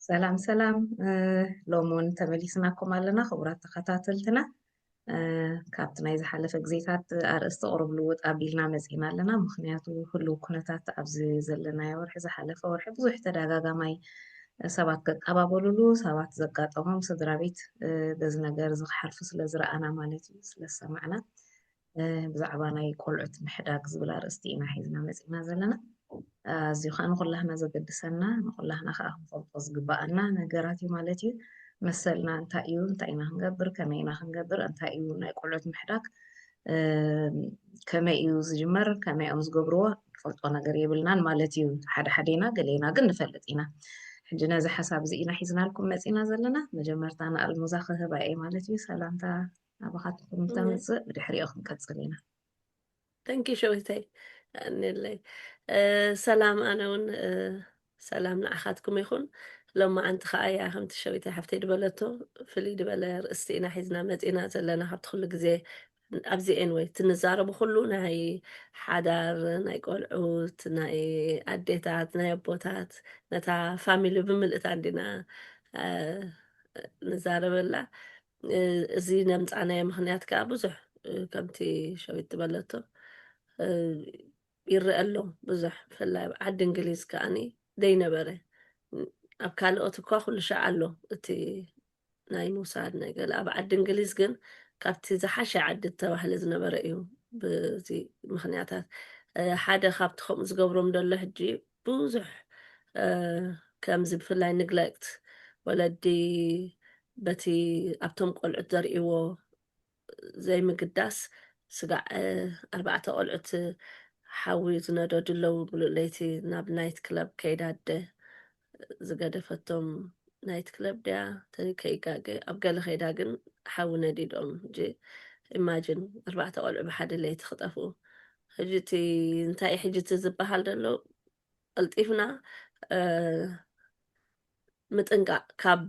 ሰላም ሰላም ሎሚ እውን ተመሊስናኩም ኣለና ክቡራት ተኸታተልትና ካብቲ ናይ ዝሓለፈ ግዜታት ኣርእስቲ ቅሩብ ልውጥ ኣቢልና መፂና ኣለና ምክንያቱ ህልው ኩነታት ኣብዚ ዘለናዮ ወርሒ ዝሓለፈ ወርሒ ብዙሕ ተደጋጋማይ ሰባት ከቀባበሉሉ ሰባት ዘጋጠሞም ስድራ ቤት በዚ ነገር እዚ ክሓልፉ ስለ ዝረኣና ማለት እዩ ስለ ዝሰማዕና ብዛዕባ ናይ ቆልዑት ምሕዳግ ዝብል ኣርእስቲ ኢና ሒዝና መጺና ዘለና ኣዝዩ ከዓ ንኩላህና ዘገድሰና ንኩላህና ከዓ ክንፈልጦ ዝግባኣና ነገራት እዩ ማለት እዩ መሰልና እንታይ እዩ እንታይ ኢና ክንገብር ከመይ ኢና ክንገብር እንታይ እዩ ናይ ቆልዑት ምሕዳግ ከመይ እዩ ዝጅመር ከመይ እዮም ዝገብርዎ ንፈልጦ ነገር የብልናን ማለት እዩ ሓደ ሓደ ኢና ገሌና ግን ንፈልጥ ኢና ሕጂ ነዚ ሓሳብ እዚ ኢና ሒዝናልኩም መፂና ዘለና መጀመርታ ንኣልሙዛ ክህባ እየ ማለት እዩ ሰላምታ ናባኻትኩም እንተምፅእ ብድሕሪኦ ክንቀፅል ኢና ተንኪ ሸዊተይ ኣንለይ ሰላም ኣነ እውን ሰላም ንዓኻትኩም ይኹን ሎም መዓንቲ ከዓ እያ ከምቲ ሸዊተይ ሓፍተይ ድበለቶ ፍልይ ድበለ ርእስቲ ኢና ሒዝና መፂና ዘለና ካብቲ ኩሉ ግዜ ኣብዚ ኤንወይ እቲ ንዛረቡ ኩሉ ናይ ሓዳር ናይ ቆልዑት ናይ ኣዴታት ናይ ኣቦታት ነታ ፋሚሊ ብምልእታ እንዲና ንዛረበላ እዚ ነምጻናዮ ምክንያት ከኣ ብዙሕ ከምቲ ሸዊት ዝበለቶ ይረአ ኣሎ ብዙሕ ብፍላይ ኣብ ዓዲ እንግሊዝ ከኣኒ ዘይነበረ ኣብ ካልኦት እኳ ኩሉ ሻዕ ኣሎ እቲ ናይ ምውሳድ ነገር ኣብ ዓዲ እንግሊዝ ግን ካብቲ ዝሓሸ ዓዲ ተባህለ ዝነበረ እዩ ብዚ ምክንያታት ሓደ ካብቲ ከምኡ ዝገብሮም ደሎ ሕጂ ብዙሕ ከምዚ ብፍላይ ንግለክት ወለዲ በቲ ኣብቶም ቆልዑት ዘርእይዎ ዘይምግዳስ ስጋዕ ኣርባዕተ ቆልዑት ሓዊ ዝነደዱ ኣለዉ ብሉ ለይቲ ናብ ናይት ክለብ ከይዳ ኣደ ዝገደፈቶም ናይት ክለብ ድያ ከይጋገ ኣብ ገለ ከይዳ ግን ሓዊ ነዲዶም ጂ ኢማጂን ኣርባዕተ ቆልዑ ብሓደ ለይቲ ክጠፍኡ ሕጂ እቲ እንታይ ሕጂ እቲ ዝበሃል ዘሎ ቀልጢፍና ምጥንቃቕ ካብ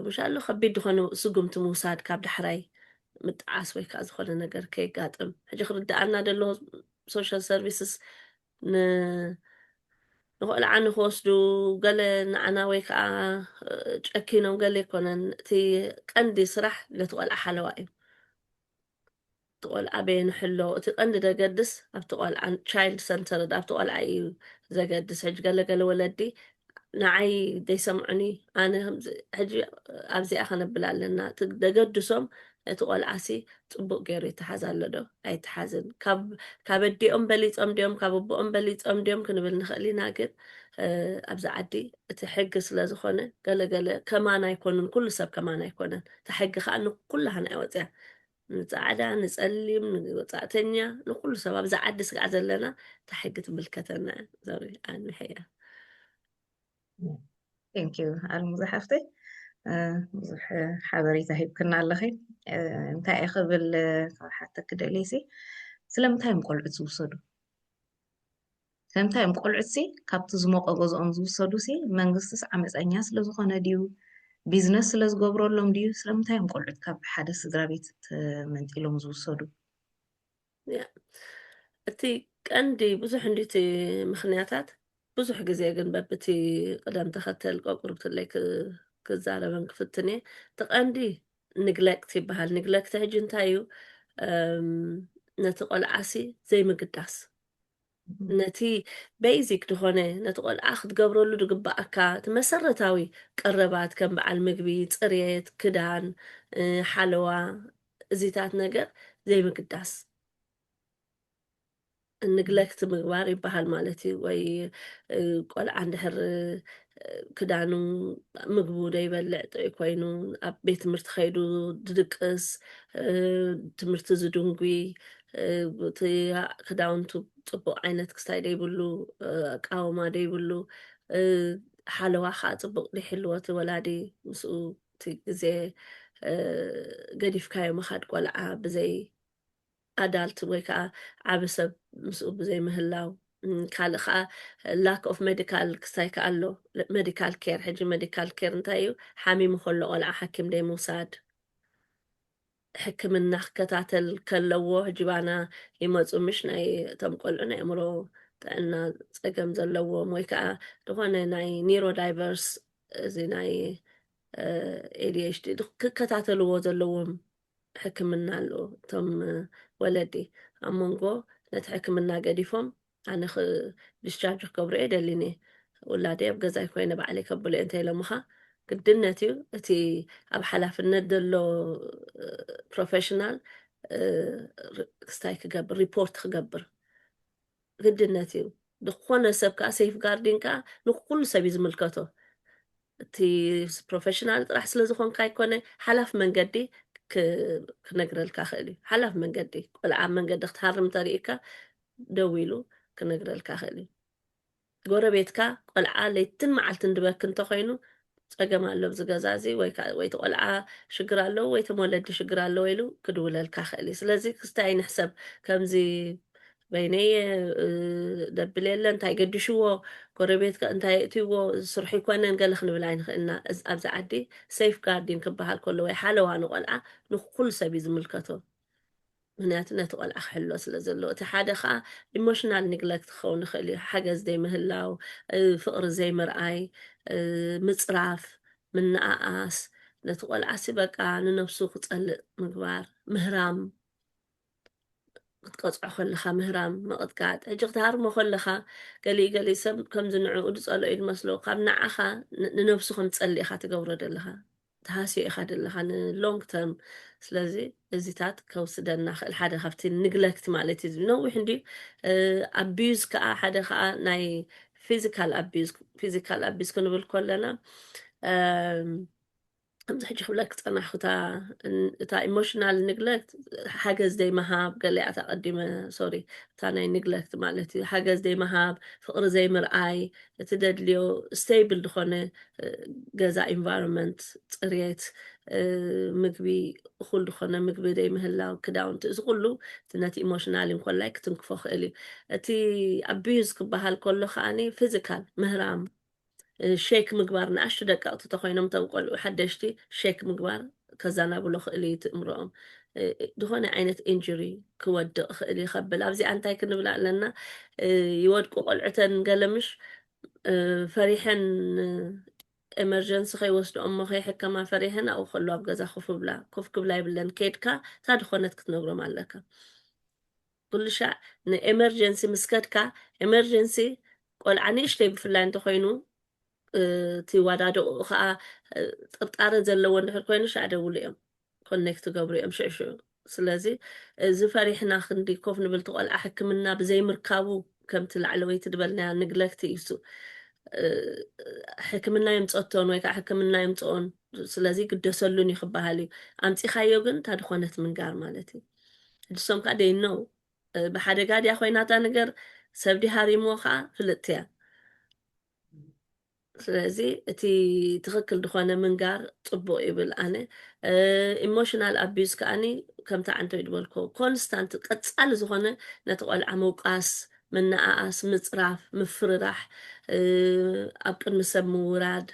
ምሻሉ ከቢድ ዝኾኑ ስጉምቲ ምውሳድ ካብ ዳሕራይ ምጥዓስ ወይ ከዓ ዝኾነ ነገር ከይጋጥም ሕጂ ክርድኣና ደሎ ሶሻል ሰርቪስስ ንቆልዓ ንክወስዱ ገለ ንዓና ወይ ከዓ ጨኪኖም ገለ ኣይኮነን እቲ ቀንዲ ስራሕ ነቲ ቆልዓ ሓለዋ እዩ እቲ ቆልዓ በየኑ ሕሎ እቲ ቀንዲ ደገድስ ኣብቲ ቆልዓ ቻይልድ ሰንተርድ ኣብቲ ቆልዓ እዩ ዘገድስ ሕጂ ገለ ገለ ወለዲ ንዓይ ዘይሰምዑኒ ኣነ ሕጂ ኣብዚኣ ከነብል ኣለና እቲ ደገድሶም እቲ ቆልዓሲ ፅቡቅ ገይሩ ይተሓዝ ኣሎ ዶ ኣይተሓዝን ካብ ኣዲኦም በሊፆም ድዮም ካብ ኣቦኦም በሊፆም ድዮም ክንብል ንኽእል ኢና ግን ኣብዚ ዓዲ እቲ ሕጊ ስለ ዝኾነ ገለገለ ከማን ኣይኮኑን ኩሉ ሰብ ከማን ኣይኮነን እታ ሕጊ ከኣ ንኩላህና እያ ወጺኣ ንጻዕዳ ንጸሊም ንወጻእተኛ ንኩሉ ሰብ ኣብዚ ዓዲ ስጋዕ ዘለና እታ ሕጊ ትምልከተና ዞሪ ኣንሕያ ቴንክ ዩ ኣልሙዛ ሓፍተይ ብዙሕ ሓበሬታ ሂብክና ኣለኺ እንታይ እየ ክብል ካብ ሓተኪ ደልየሲ ስለምንታይ እዮም ቆልዑት ዝውሰዱ ከምታ ዮም ቆልዑትሲ ካብቲ ዝሞቀ ገዝኦም ዝውሰዱሲ መንግስትስ ዓመጸኛ ስለ ዝኾነ ድዩ ቢዝነስ ስለ ዝገብረሎም ድዩ ስለምንታይ ዮም ቆልዑት ካብ ሓደ ስድራቤት ተመንጢሎም ዝውሰዱ። ያ እቲ ቀንዲ ብዙሕ እንድዩ እቲ ምኽንያታት ብዙሕ ግዜ ግን በብቲ ቅደም ተኸተል ቆቁርብትለይ ክዛረበን ክፍትን እየ እቲ ቀንዲ ንግለክት ይበሃል ንግለክት ሕጂ እንታይ እዩ ነቲ ቆልዓሲ ዘይምግዳስ ነቲ በይዚክ ድኾነ ነቲ ቆልዓ ክትገብረሉ ድግበኣካ እቲ መሰረታዊ ቀረባት ከም በዓል ምግቢ፣ ጽርየት፣ ክዳን፣ ሓለዋ እዚታት ነገር ዘይምግዳስ። ንግለክት ምግባር ይበሃል ማለት እዩ ወይ ቆልዓ እንድሕር ክዳኑ ምግቡ ዘይበልዕ ጥዑይ ኮይኑ ኣብ ቤት ትምህርቲ ከይዱ ድድቅስ ትምህርቲ ዝድንጉይ እቲ ክዳውንቱ ፅቡቅ ዓይነት ክስታይ ደይብሉ ኣቃውማ ደይብሉ ሓለዋ ከዓ ፅቡቅ ደይሕልዎ እቲ ወላዲ ምስኡ እቲ ግዜ ገዲፍካዮ ምካድ ቆልዓ ብዘይ ኣዳልት ወይ ከዓ ዓብ ሰብ ምስኡ ብዘይ ምህላው ካልእ ከዓ ላክ ኦፍ ሜዲካል ክስታይ ከዓ ኣሎ ሜዲካል ኬር ሕጂ ሜዲካል ኬር እንታይ እዩ ሓሚሙ ከሎ ቆልዓ ሓኪም ደይ ምውሳድ ሕክምና ክከታተል ከለዎ ጅባና ይመጹ ምሽ ናይ እቶም ቆልዑ ናይ ኣእምሮ ጥዕና ጸገም ዘለዎም ወይ ከዓ ዝኾነ ናይ ኒሮ ዳይቨርስ እዚ ናይ ኤዲኤችዲ ክከታተልዎ ዘለዎም ሕክምና ኣሎ እቶም ወለዲ ኣብ መንጎ ነቲ ሕክምና ገዲፎም ኣነ ክ ድስቻርጅ ክገብሮ እየ ደሊኒ ውላደይ ኣብ ገዛይ ኮይነ ባዕለይ ከብሎ እየ እንተኢሎምኻ ግድነት እዩ እቲ ኣብ ሓላፍነት ዘሎ ፕሮፌሽናል ክስታይ ክገብር ሪፖርት ክገብር ግድነት እዩ ዝኾነ ሰብ ከዓ ሴፍ ጋርዲን ከዓ ንኩሉ ሰብ እዩ ዝምልከቶ እቲ ፕሮፌሽናል ጥራሕ ስለ ዝኾንካ ኣይኮነ ሓላፍ መንገዲ ክነግረልካ ክእል እዩ ሓላፍ መንገዲ ቆልዓ መንገዲ ክትሃርም ተርእካ ደዊሉ ክነግረልካ ይኽእል እዩ። ጎረቤትካ ቆልዓ ለይትን መዓልትን ድበኪ እንተኾይኑ ፀገም ኣሎ ኣብዚ ገዛ እዚ ወይ ከዓ ወይ እቲ ቆልዓ ሽግር ኣለዎ ወይ እቶም ወለዲ ሽግር ኣለዎ ኢሉ ክድውለልካ ይኽእል እዩ። ስለዚ ክስታይ ኣይንሕሰብ ከምዚ በይነይ እየ እ፣ ደብል የለ እንታይ ገዲሽዎ ጎረቤት ከ እንታይ የእትይዎ ስርሑ ኣይኮነን ገለ ክንብል ኣይንኽእልና። እዝ- ኣብዚ ዓዲ ሴፍ ጋርዲን ክበሃል ከሎ ወይ ሓለዋ ንቆልዓ ንኩሉ ሰብ እዩ ዝምልከቶ። ምኽንያቱ ነቲ ቆልዓ ክሕሎ ስለ ዘለዎ። እቲ ሓደ ከኣ ኢሞሽናል ኒግለክት ክኸውን ይኽእል እዩ፣ ሓገዝ ዘይምህላው፣ ፍቕሪ ዘይምርኣይ፣ ምጽራፍ፣ ምንእኣስ፣ ነቲ ቆልዓሲ በቃ ንነብሱ ክጸልእ ምግባር፣ ምህራም፣ ክትቀጽዖ ከለኻ ምህራም፣ ምቕጥቃጥ፣ ሕጂ ክትሃርሞ ከለኻ ገሊኡ ገሊኡ ሰብ ከምዚ ንዕኡ ዝጸልኦ እዩ ዝመስሎ፣ ካብ ንዓኻ ንነብሱ ከም ዝጸልእ ኢኻ ትገብሮ ዘለኻ። ትሃስዮ ኢኻ ደለኻ ን long term ስለዚ እዚታት ከውስደና ክእል ሓደ ካብቲ ንግለክት ማለት እዩ ነዊሕ እንድዩ ኣቢዩዝ ከዓ ሓደ ከዓ ናይ ፊዚካል ኣቢዩዝ ፊዚካል ኣቢዩዝ ክንብል ከለና ከምዚ ሕጂ ክብለክ ፀናሕኩ እታ ኢሞሽናል ንግለክት ሓገዝ ዘይምሃብ ገለያት ኣቐዲመ ሶሪ እታ ናይ ንግለክት ማለት እዩ ሓገዝ ዘይምሃብ ፍቕሪ ዘይምርኣይ እቲ ደድልዮ ስተይብል ዝኾነ ገዛ ኢንቫይሮንመንት ፅርየት ምግቢ እኹል ዝኾነ ምግቢ ዘይምህላው ክዳውንቲ እዚ ኩሉ እቲ ነቲ ኢሞሽናል እንኮላይ ክትንክፎ ክእል እዩ እቲ ኣቢዩዝ ክበሃል ከሎ ከዓኒ ፊዚካል ምህራም ሼክ ምግባር ንኣሽቱ ደቀቕቲ ተኮይኖም ተም ቆልዑ ሓደሽቲ ሼክ ምግባር ከዛናብሎ ክእል እዩ ትእምሮኦም ዝኾነ ዓይነት ኢንጁሪ ክወድቕ ይኽእል እዩ ከብል ኣብዚኣ እንታይ ክንብላ ኣለና ይወድቁ ቆልዑተን ገለምሽ ፈሪሐን ኤመርጀንሲ ከይወስድኦ እሞ ከይሕከማ ፈሪሐን ኣብኡ ከሎ ኣብ ገዛ ኮፍ ብላ ኮፍ ክብላ ይብለን ከድካ እታ ድኾነት ክትነግሮም ኣለካ ኩሉ ሻዕ ንኤመርጀንሲ ምስ ከድካ ኤመርጀንሲ ቆልዓ ንእሽተይ ብፍላይ እንተኮይኑ እቲ ዋዳድቕኡ ከዓ ጥርጣረ ዘለዎ እንድሕር ኮይኑ ሻዕ ደውሉ እዮም ኮኔክት ገብሩ እዮም ሽዑ ሽዑ ስለዚ እዚ ፈሪሕና ክንዲ ኮፍ ንብል እቲ ቆልዓ ሕክምና ብዘይምርካቡ ከምቲ ላዕለወይቲ ዝበልናያ ንግለክቲ እዩሱ ሕክምና የምፀቶን ወይ ከዓ ሕክምና የምፅኦን ስለዚ ግደሰሉን እዩ ክበሃል እዩ ኣምፂኻዮ ግን እታ ድኾነት ምንጋር ማለት እዩ ሕድሶም ከዓ ደይነው ብሓደጋ ድያ ኮይናታ ነገር ሰብ ዲ ሃሪሞ ከዓ ፍልጥቲ እያ ስለዚ እቲ ትኽክል ዝኾነ ምንጋር ፅቡቅ ይብል ኣነ ኢሞሽናል ኣቢዩዝ ከዓኒ ከምቲ ዓንተይ ዝበልኮ ኮንስታንት ቀፃሊ ዝኾነ ነቲ ቆልዓ ምውቃስ ምነኣኣስ ምፅራፍ ምፍርራሕ ኣብ ቅድሚ ሰብ ምውራድ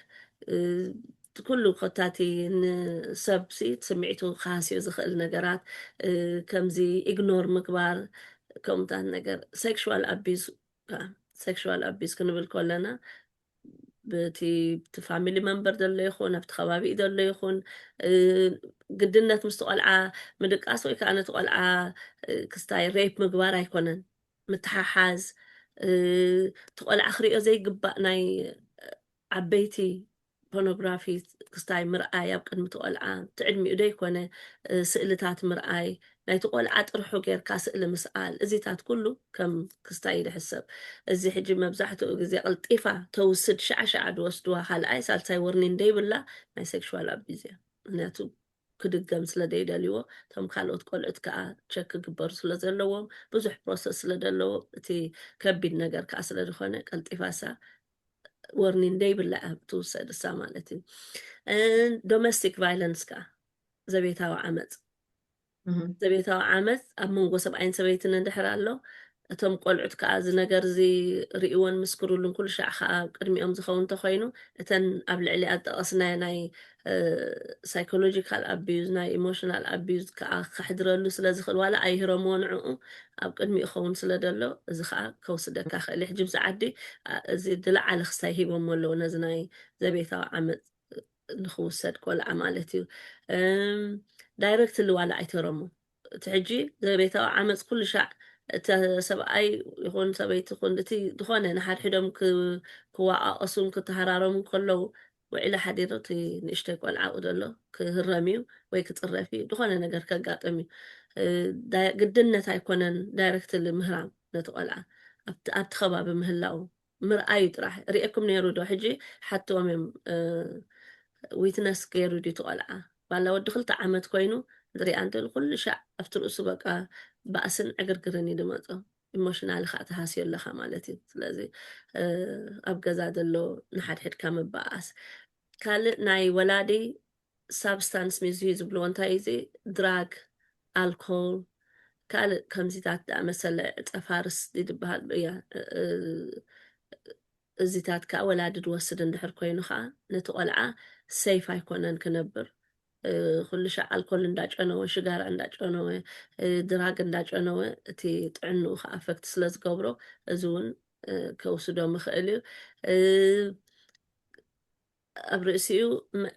ኩሉ ኮታቲ ንሰብሲ ስምዒቱ ክሃስዮ ዝኽእል ነገራት ከምዚ ኢግኖር ምግባር ከምታት ነገር ሴክሽዋል ኣቢዩዝ ከኣ ሴክሹዋል ኣቢዩዝ ክንብል ከለና ብቲ እቲ ፋሚሊ መንበር ዘሎ ይኹን ኣብቲ ከባቢኡ ዘሎ ይኹን ግድነት ምስቲ ቆልዓ ምድቃስ ወይ ከዓ ነቲ ቆልዓ ክስታይ ሬፕ ምግባር ኣይኮነን ምትሓሓዝ እቲ ቆልዓ ክሪኦ ዘይግባእ ናይ ዓበይቲ ፖኖግራፊ ክስታይ ምርኣይ ኣብ ቅድሚ እቲ ቆልዓ እቲ ዕድሚኡ ደይኮነ ስእልታት ምርኣይ ናይቲ ቆልዓ ጥርሑ ጌርካ ስእሊ ምስኣል እዚታት ኩሉ ከም ክስታይ እዩ ዝሕሰብ እዚ ሕጂ መብዛሕትኡ ግዜ ቅልጢፋ ተውስድ ሸዓ ሸዓ ዝወስድዋ ካልኣይ ሳልሳይ ወርኒን ደይብላ ናይ ሴክሹዋል ኣቢዝ እያ ምክንያቱ ክድገም ስለ ዘይደልይዎ እቶም ካልኦት ቆልዑት ከዓ ቸክ ክግበሩ ስለ ዘለዎም ብዙሕ ፕሮሰስ ስለ ዘለዎ እቲ ከቢድ ነገር ከዓ ስለ ዝኾነ ቀልጢፋሳ ወርኒን ዘይብላ እያ ትውሰድ እሳ ማለት እዩ ዶሜስቲክ ቫይለንስ ከዓ ዘቤታዊ ዓመፅ ዘቤታዊ ዓመፅ ኣብ መንጎ ሰብኣይን ሰበይትን እንድሕር ኣሎ እቶም ቆልዑት ከዓ እዚ ነገር እዚ ርእዎን ምስክሩሉን ኩሉ ሻዕ ከዓ ቅድሚኦም ዝኸውን እንተኮይኑ እተን ኣብ ልዕሊኣ ዝጠቐስናዮ ናይ ሳይኮሎጂካል ኣቢዩዝ ናይ ኢሞሽናል ኣቢዩዝ ከኣ ከሕድረሉ ስለ ዝኽእል ዋላ ኣይህረምዎ ንዕኡ ኣብ ቅድሚኡ ኸውን ስለ ደሎ እዚ ከኣ ከውስደካ ክእል እዩ ሕጂ ምስ ዓዲ እዚ ድለዓለ ክስታይ ሂቦሞ ኣለዉ ነዚ ናይ ዘቤታዊ ዓመፅ ንክውሰድ ቆልዓ ማለት እዩ ዳይረክትሊ ዋላ ኣይትህረሙ እቲ ሕጂ ዘቤታዊ ዓመፅ ኩሉ ሻዕ እቲ ሰብኣይ ይኹን ሰበይቲ ይኹን እቲ ዝኾነ ንሓድሕዶም ክዋቃቀሱን ክተሃራረሙን ከለው ውዒለ ሓዲሩ እቲ ንእሽተይ ቆልዓ ኣብኡ ዘሎ ክህረም እዩ ወይ ክፅረፍ እዩ ዝኾነ ነገር ከጋጥም እዩ ግድነት ኣይኮነን ዳይረክትሊ ምህራም ነቲ ቆልዓ ኣብቲ ከባቢ ምህላው ምርኣዩ ጥራሕ ሪኤኩም ነይሩ ዶ ሕጂ ሓትዎም እዮም ዊትነስ ገይሩ ድዩ እቲ ቆልዓ ባላ ወዲ ክልተ ዓመት ኮይኑ ዝሪኣ እንተሉ ኩሉ ሻዕ ኣብቲ ርእሱ በቃ ባእስን ዕግርግርን እዩ ድመፆ ኢሞሽናል ከዓ ተሃስዮ ኣለካ ማለት እዩ ስለዚ ኣብ ገዛ ዘሎ ንሓድሕድካ ምበኣስ ካልእ ናይ ወላዲ ሳብስታንስ ሚዙ ዝብልዎ እንታይ እዩ እዚ ድራግ ኣልኮል ካልእ ከምዚታት ዝኣመሰለ ዕጸፋርስ ድዩ ዝበሃል እዚታት ከዓ ወላዲ ዝወስድ እንድሕር ኮይኑ ከዓ ነቲ ቆልዓ ሰይፍ ኣይኮነን ክነብር ኩሉ ሻዕ ኣልኮል እንዳጨነወ ሽጋራ እንዳጨነወ ድራግ እንዳጨነወ እቲ ጥዕንኡ ከዓ ኣፈክት ስለ ዝገብሮ እዚ እውን ከውስዶ ምኽእል እዩ ኣብ ርእሲኡ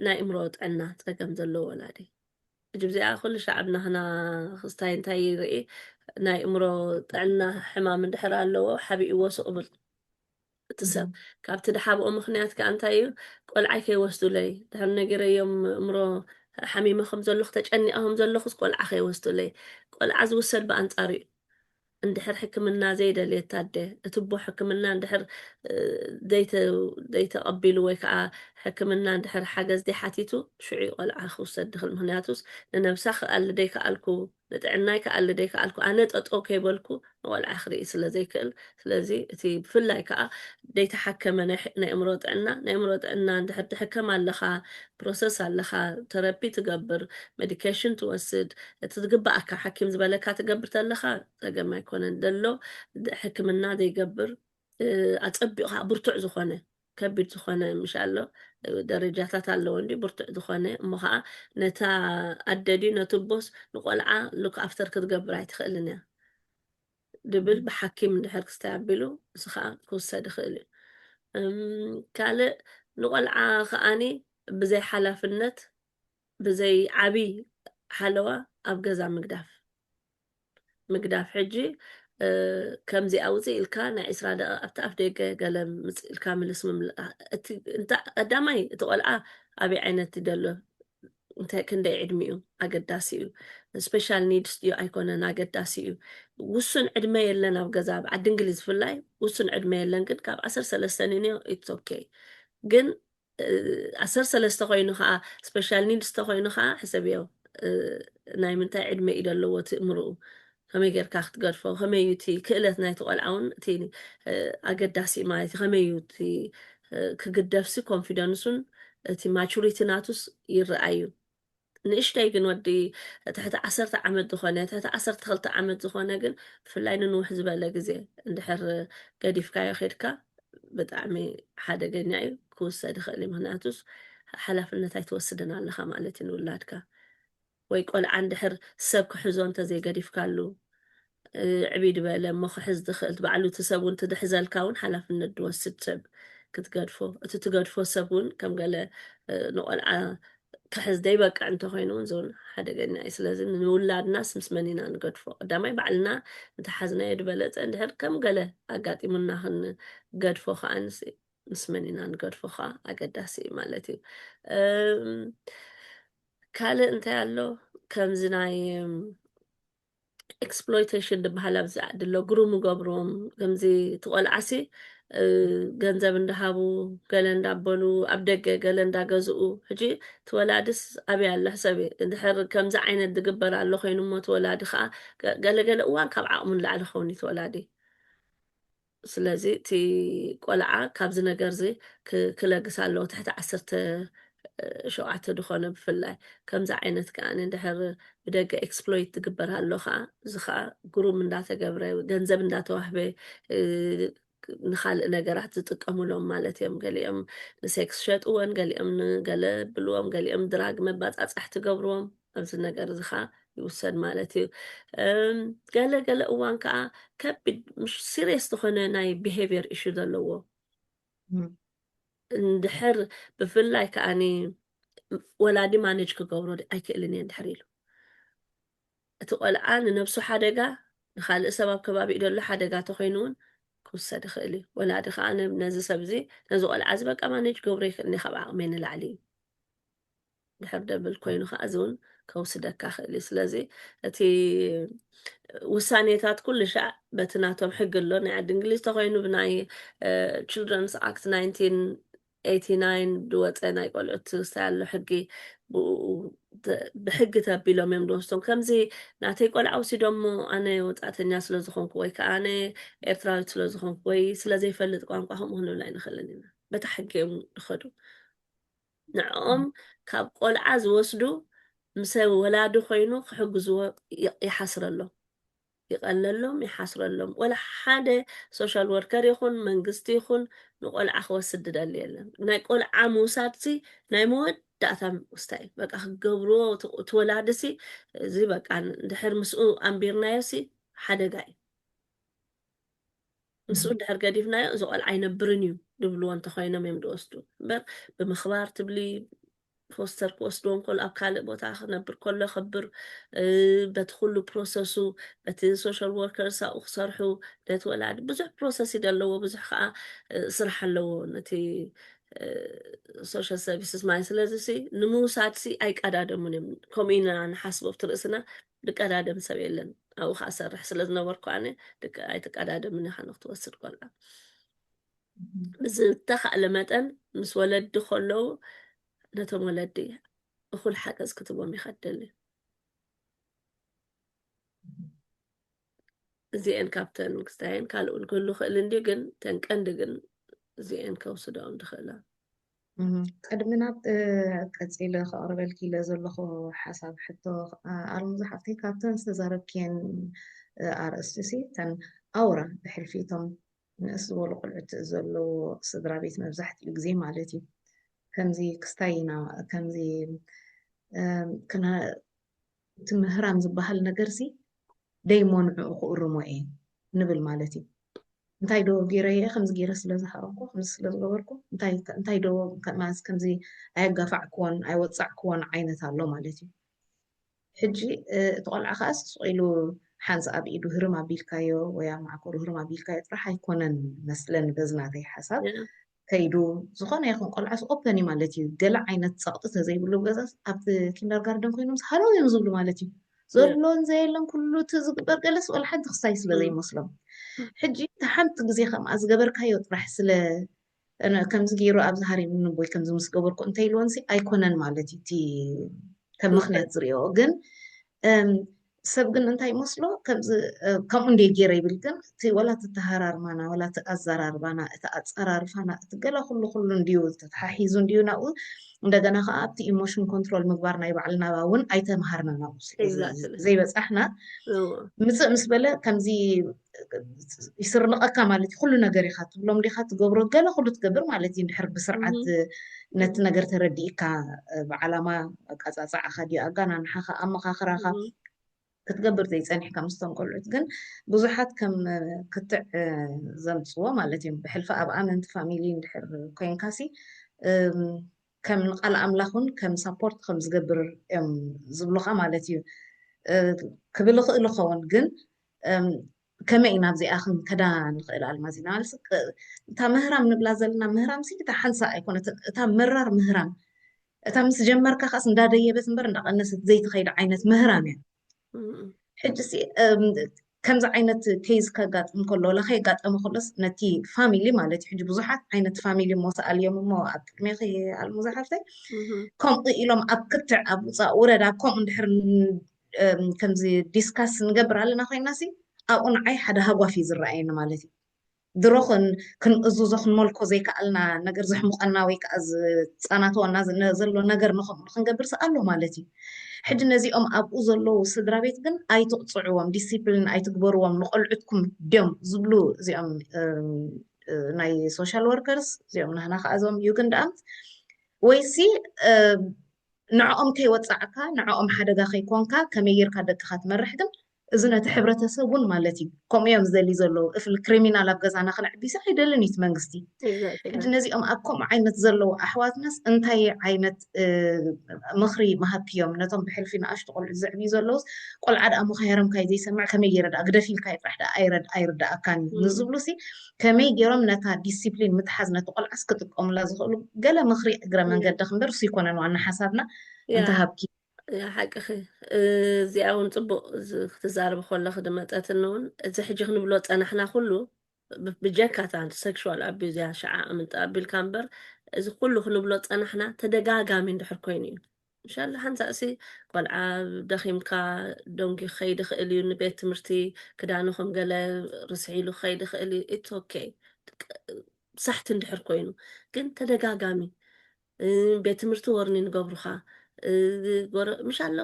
ናይ እምሮ ጥዕና ጸገም ዘለዎ ወላዲ ሕጂ ብዚኣ ኩሉ ሻዕብ ናህና ክስታይ እንታይ ይርኢ ናይ እምሮ ጥዕና ሕማም እንድሕር ኣለዎ ሓቢእዎ ሱቕ ብል እቲ ሰብ ካብቲ ድሓብኦ ምክንያት ከዓ እንታይ እዩ ቆልዓይ ከይወስዱለይ ድሕር ነጊረዮም እምሮ ሓሚመ ከም ዘለኹ ተጨኒቐ ከም ዘለኹስ ቆልዓ ከይወስዱለይ ቆልዓ ዝውሰድ ብኣንጻሩ እዩ እንድሕር ሕክምና ዘይደልየት ኣደ፣ እቲ እቦ ሕክምና እንድሕር ዘይተቐቢሉ ወይ ከኣ ሕክምና እንድሕር ሓገዝ ዘይሓቲቱ፣ ሽዑ'ዩ ቆልዓ ክውሰድ ድኽል። ምኽንያቱስ ንነብሳ ክኣሊ ደይከኣልኩ፣ ንጥዕናይ ክኣሊ ደይከኣልኩ፣ ኣነ ጠጠው ከይበልኩ ንቆልዓ ክርኢ ስለ ዘይክእል። ስለዚ እቲ ብፍላይ ከኣ ደይተሓከመ ናይ ኣእምሮ ጥዕና፣ ናይ ኣእምሮ ጥዕና እንድሕር ትሕከም ኣለኻ፣ ፕሮሰስ ኣለካ ተረፒ ትገብር መዲከሽን ትወስድ እቲ ዝግበኣካ ሓኪም ዝበለካ ትገብር ተለካ ጸገም ኣይኮነን ደሎ ሕክምና ዘይገብር ኣጸቢቑ ከዓ ብርቱዕ ዝኾነ ከቢድ ዝኾነ ምሽ ኣሎ ደረጃታት ኣለዎ እንዲ ብርቱዕ ዝኾነ እሞ ከዓ ነታ ኣደ ድዩ ነቲ ቦስ ንቆልዓ ሉክ ኣፍተር ክትገብር ኣይትኽእልን እያ ድብል ብሓኪም እንድሕር ክስታይ ኣቢሉ እዚ ከኣ ክውሰድ ይኽእል እዩ። ካልእ ንቆልዓ ከኣኒ ብዘይ ሓላፍነት ብዘይ ዓብይ ሓለዋ ኣብ ገዛ ምግዳፍ ምግዳፍ ሕጂ ከምዚ ኣውፅእ ኢልካ ናይ ዕስራ ደቂቕ ኣብቲ ኣፍ ደገ ገለ ምፅ ኢልካ ምልስ ምምላእ እቲ ቀዳማይ እቲ ቆልዓ ኣበይ ዓይነት ይደሎ እንታይ ክንደይ ዕድሚኡ ኣገዳሲ እዩ ስፔሻል ኒድስ ድዩ ኣይኮነን ኣገዳሲ እዩ ውሱን ዕድመ የለን ኣብ ገዛ ኣብ ዓዲ እንግሊዝ ፍላይ ውሱን ዕድመ የለን ግን ካብ ዓሰርተ ሰለስተ ንንዮ ኢትስ ኦኬ ግን ዓሰርተ ሰለስተ ኮይኑ ከዓ ስፔሻል ኒድስ ተኮይኑ ከዓ ሕሰብዮ ናይ ምንታይ ዕድመ እዩ ዘለዎ ትእምርኡ ከመይ ጌርካ ክትገድፎ ከመይ እዩ እቲ ክእለት ናይቲ ቆልዓ እውን እቲ ኣገዳሲ ማለት እዩ ከመይ እዩ እቲ ክግደፍሲ ኮንፊደንሱን እቲ ማቹሪቲ ናቱስ ይረኣ እዩ ንእሽተይ ግን ወዲ ትሕቲ ዓሰርተ ዓመት ዝኾነ ትሕቲ ዓሰርተ ክልተ ዓመት ዝኾነ ግን ብፍላይ ንንውሕ ዝበለ ግዜ እንድሕር ገዲፍካዮ ኬድካ ብጣዕሚ ሓደገኛ እዩ ክውሰድ ይኽእል እዩ ምክንያቱስ ሓላፍነት ኣይትወስድን ኣለኻ ማለት እዩ ንውላድካ ወይ ቆልዓ እንድሕር ሰብ ክሕዞ እንተዘይ ገዲፍካሉ ዕብይ ድበለ እሞ ክሕዝ ድኽእል ትባዕሉ እቲ ሰብ ውን ትድሕዘልካ ውን ሓላፍነት ድወስድ ሰብ ክትገድፎ እቲ ትገድፎ ሰብ ውን ከም ገለ ንቆልዓ ክሕዝ ደይበቅዕ እንተኾይኑ ውን ዞን ሓደገኛ እዩ ስለዚ ንውላድናስ ምስ መን ኢና ንገድፎ ቀዳማይ ባዕልና እንተሓዝናዮ ድበለጸ እንድሕር ከም ገለ ኣጋጢሙና ክንገድፎ ከዓ ምስ መን ኢና ንገድፎ ከዓ ኣገዳሲ እዩ ማለት እዩ ካልእ እንታይ ኣሎ ከምዚ ናይ ኤክስፕሎይቴሽን ዝበሃል ኣብዚ ዓዲ ኣሎ ግሩም ገብሮም ከምዚ ትቆልዓሲ ገንዘብ እንዳሃቡ ገለ እንዳበሉ ኣብ ደገ ገለ እንዳገዝኡ ሕጂ ትወላድስ ኣብይ ኣላ ሰብ ድሕር ከምዚ ዓይነት ዝግበር ኣሎ ኮይኑ እሞ ትወላዲ ከዓ ገለገለ እዋን ካብ ዓቕሙ ንላዕሊ ክኸውን እዩ ትወላዲ ስለዚ እቲ ቆልዓ ካብዚ ነገርዚ ክለግስ ኣለዎ ትሕቲ ዓሰርተ ሸውዓተ ድኾነ ብፍላይ ከምዚ ዓይነት ከኣ ድሕር ብደገ ኤክስፕሎይት ዝግበር ኣሎ ከኣ እዚ ከኣ ግሩም እንዳተገብረ ገንዘብ እንዳተዋህበ ንካልእ ነገራት ዝጥቀሙሎም ማለት እዮም ገሊኦም ንሴክስ ሸጥወን ገሊኦም ንገለ ብልዎም ገሊኦም ድራግ መባፃፃሕ ትገብርዎም ኣብዚ ነገር እዚ ከዓ ይውሰድ ማለት እዩ ገለ ገለ እዋን ከዓ ከቢድ ምሽ ሲሪየስ ዝኾነ ናይ ብሄቪየር ኢሹ ዘለዎ እንድሕር ብፍላይ ከዓኒ ወላዲ ማነጅ ክገብሮ ኣይክእልን እየ እንድሕር ኢሉ እቲ ቆልዓ ንነብሱ ሓደጋ ንካልእ ሰብ ኣብ ከባቢ ደሎ ሓደጋ ተኮይኑ እውን ክውሰድ ይኽእል እዩ ወላዲ ከዓ ነዚ ሰብ እዚ ነዚ ቆልዓ እዚ በቃ ማነጅ ገብሮ ይክእልኒ ካብ ዓቕመይ ንላዕሊ እዩ ድሕር ደብል ኮይኑ ከዓ እዚ እውን ከውስደካ ክእል እዩ ስለዚ እቲ ውሳኔታት ኩሉ ሻዕ በቲ ናቶም ሕጊ ኣሎ ናይ ዓዲ እንግሊዝ ተኮይኑ ብናይ ችልድረንስ ኣክት 1989 ዝወፀ ናይ ቆልዑት ውሳይ ኣሎ ሕጊ ብሕጊ ተቢሎም እዮም ዝወስዶም ከምዚ ናተይ ቆልዓ ወሲዶሞ ኣነ ወፃእተኛ ስለዝኮንኩ ወይ ከዓ ኣነ ኤርትራዊት ስለዝኮንኩ ወይ ስለዘይፈልጥ ቋንቋ ከምኡ ክንብል ኣይንክእልን ኢና በታ ሕጊ እዮም ዝኸዱ ንዕኦም ካብ ቆልዓ ዝወስዱ ምሰ ወላዲ ኮይኑ ክሕግዝዎ ይሓስረሎም ይቀለሎም ይሓስረሎም ወላ ሓደ ሶሻል ወርከር ይኹን መንግስቲ ይኹን ንቆልዓ ክወስድ ድደሊ የለን ናይ ቆልዓ ምውሳድሲ ናይ መወድ ዳእታ ምስታይ እዩ በቃ ክገብርዎ እቲ ወላድሲ እዚ በቃ ድሕር ምስኡ ኣንቢርናዮሲ ሓደጋ እዩ ምስኡ እንድሕር ገዲፍናዮ እዚ ቆልዓ ኣይነብርን እዩ ድብልዎ እንተኾይኖም እዮም ዝወስዱ እምበር ብምኽባር ትብሊ ፎስተር ክወስድዎ እንከሎ ኣብ ካልእ ቦታ ክነብር ከሎ ከብር በቲ ኩሉ ፕሮሰሱ በቲ ሶሻል ወርከርስ ኣብኡ ክሰርሑ ነቲ ወላዲ ብዙሕ ፕሮሰስ እዩ ዘለዎ ብዙሕ ከዓ ስራሕ ኣለዎ ነቲ ሶሻል ሰርቪስስ ማለት ስለዚ ሲ ንምውሳድ ሲ ኣይቀዳደሙን እዮም ከምኡ ኢና ንሓስቦ ኣብቲ ርእስና ድቀዳደም ሰብ የለን ኣብኡ ከዓ ሰርሕ ስለ ዝነበርኩ ኣነ ደቂ ኣይትቀዳደምን ኢኻ ንክትወስድ ቆልዓ ብዝተኻእለ መጠን ምስ ወለዲ ከለዉ ነቶም ወለዲ እኹል ሓገዝ ክትቦም ኢኻ ትደሊ እዚአን ካብተን ክስታየን ካልኡን ክህሉ ክእል እንዲ ግን ተን ቀንዲ ግን እዚአን ከውስደኦም ድኽእላ ቅድሚ ናብ ቀጺለ ከቕርበልኪ ኢለ ዘለኹ ሓሳብ ሕቶ ኣልሙዛ ሓፍተይ ካብተን ዝተዛረብክየን ኣርእስቲ ሲ እተን ኣውራ ብሕልፊ እቶም ንእስ ዝበሉ ቆልዑት ዘለዎ ስድራ ቤት መብዛሕትኡ ግዜ ማለት እዩ ከምዚ ክስታይ ኢና ከምዚ እቲ ምህራም ዝበሃል ነገር'ዚ ደይሞንዕኡ ክእርሞ እየ ንብል ማለት እዩ። እንታይ ዶ ገይረ እየ ከምዚ ገይረ ስለ ዝሃረምኩ ከምዚ ስለ ዝገበርኩ እንታይ እንታይ ዶ ከማዝ ከምዚ ኣየጋፋዕክዎን ኣይወጻዕክዎን ዓይነት ኣሎ ማለት እዩ። ሕጂ እቲ ቆልዓ ከኣ ስቕ ኢሉ ሓንስ ኣብ ኢዱ ህርም ኣቢልካዮ ወይ ኣብ ማዓኮሩ ህርም ኣቢልካዮ ጥራሕ ኣይኮነን መስለኒ በዚ ናተይ ሓሳብ ከይዱ ዝኾነ ይኹን ቆልዓስ ኦፐን እዩ ማለት እዩ ገለ ዓይነት ፀቕጢ ተዘይብሉ ገዛስ ኣብቲ ኪንደር ጋርደን ኮይኖም ሃለው እዮም ዝብሉ ማለት እዩ ዘሎን ዘየለን ኩሉ እቲ ዝግበር ገለስ ወላ ሓንቲ ክሳይ ስለ ዘይመስሎም ሕጂ እቲ ሓንቲ ግዜ ከምኣ ዝገበርካዮ ጥራሕ ስለ ከምዚ ገይሩ ኣብዚ ሃሪም ንቦይ ከምዚ ምስ ገበርኩ እንተ ኢልዎንሲ ኣይኮነን ማለት እዩ እቲ ከም ምክንያት ዝሪኦ ግን ሰብ ግን እንታይ ይመስሎ ከምዚ ከምኡ እንድየ ጌረ ይብል ግን እቲ ወላ እቲ ኣተሃራርማና ወላ እቲ ኣዘራርባና እቲ ኣጸራርፋና እቲ ገለ ኩሉ ኩሉ እንድዩ ተተሓሒዙ እንድዩ ናብኡ እንደገና ከዓ ኣብቲ ኢሞሽን ኮንትሮል ምግባር ናይ ባዕልና እውን ኣይተምሃርና ናብኡ ዘይበጻሕና ምጽእ ምስ በለ ከምዚ ይስርንቐካ ማለት እዩ ኩሉ ነገር ኢኻ ትብሎም ዲኻ ትገብሮ ገለ ኩሉ ትገብር ማለት እዩ እንድሕር ብስርዓት ነቲ ነገር ተረዲእካ ብዓላማ ኣቃጻጽዓኻ ድዩ ኣጋናንሓኻ ኣመኻኽራኻ ክትገብር ዘይጸኒሕካ ምስቶም ቆልዑት ግን ብዙሓት ከም ክትዕ ዘምፅዎ ማለት እዮም ብሕልፊ ኣብ ኣመንቲ ፋሚሊ እንድሕር ኮይንካሲ ከም ንቃል ኣምላኽ ውን ከም ሳፖርት ከም ዝገብር እዮም ዝብሉኻ ማለት እዩ ክብል ይኽእል ይኸውን ግን ከመይ ኢና ኣብዚኣ ክንከዳ ንኽእል ኣልማዝ ኢና ማለት እታ ምህራም ንብላ ዘለና ምህራም ሲ እታ ሓንሳ ኣይኮነትን እታ መራር ምህራም እታ ምስ ጀመርካ ከስ እንዳደየበት እምበር እንዳቐነሰት ዘይትኸይድ ዓይነት ምህራም እያ ሕጂሲ ከምዚ ዓይነት ኬዝ ከጋጥም ከሎ ወላ ከየጋጠመ ከሎስ ነቲ ፋሚሊ ማለት እዩ ሕጂ ብዙሓት ዓይነት ፋሚሊ እሞ ሰኣልዮም እሞ ኣብ ቅድሜኺ ኣልሙ ዝሓፍተይ ከምኡ ኢሎም ኣብ ክትዕ ኣብ ውፃእ ውረድ ኣብ ከምኡ እንድሕር ከምዚ ዲስካስ ንገብር ኣለና ኮይና ሲ ኣብኡ ንዓይ ሓደ ሃጓፍ እዩ ዝረኣየኒ ማለት እዩ ድሮ ክንእዙዞ ክንመልኮ ዘይከኣልና ነገር ዘሕሙቐና ወይ ከኣ ዝጻናተወና ዘሎ ነገር ንኸምኡ ንክንገብር ስኣሎ ማለት እዩ። ሕጂ ነዚኦም ኣብኡ ዘለዉ ስድራቤት ግን ኣይትቕጽዕዎም ዲሲፕሊን ኣይትግበርዎም ንቖልዑትኩም ድዮም ዝብሉ እዚኦም ናይ ሶሻል ወርከርስ እዚኦም ናህና ከኣ እዞም ዩግንዳኣምት ወይሲ ንዕኦም ከይወጻዕካ ንዕኦም ሓደጋ ከይኮንካ ከመይ ጌርካ ደቅኻ ትመርሕ ግን እዚ ነቲ ሕብረተሰብ ውን ማለት እዩ ከምኡ እዮም ዝደልዩ ዘለዉ እፍሊ ክሪሚናል ኣብ ገዛና ክነዕቢሲ ኣይደልን እዩ እቲ መንግስቲ ሕጂ ነዚኦም ኣብ ከምኡ ዓይነት ዘለዉ ኣሕዋትናስ እንታይ ዓይነት ምኽሪ ምሃብክዮም ነቶም ብሕልፊ ንኣሽቱ ቆልዑት ዘዕብዩ ዘለዉስ ቆልዓ ድኣ ምኻያሮም ካይ ዘይሰምዕ ከመይ ገይረ ድኣ ግደፍ ኢልካ ይጥራሕ ድኣ ኣይርድኣካን እዩ ንዝብሉሲ ከመይ ገይሮም ነታ ዲሲፕሊን ምትሓዝ ነቲ ቆልዓስ ክጥቀሙላ ዝኽእሉ ገለ ምኽሪ እግረ መንገዲ ክንበር እሱ ይኮነን ዋና ሓሳብና እንተሃብኪ ሓቅኺ እዚኣ እውን ፅቡቅ ክትዛረብ ከለኺ ድመፀትኒ እውን እዚ ሕጂ ክንብሎ ፀናሕና ኩሉ ብጀካ እታ ሴክሽዋል ኣቢዩዝ እያ ሸዓ ኣምንጣ ኣቢልካ እምበር እዚ ኩሉ ክንብሎ ፀናሕና ተደጋጋሚ እንድሕር ኮይኑ እዩ እንሻላ ሓንሳእሲ ቆልዓ ደኺምካ ደንጉ ክኸይድ ይኽእል እዩ ንቤት ትምህርቲ ክዳኑ ከም ገለ ርስሒ ኢሉ ክኸይድ ይኽእል እዩ ኢትስ ኦኬ ሳሕቲ እንድሕር ኮይኑ ግን ተደጋጋሚ ቤት ትምህርቲ ወርኒን ገብሩኻ ጎረ ምሻሎ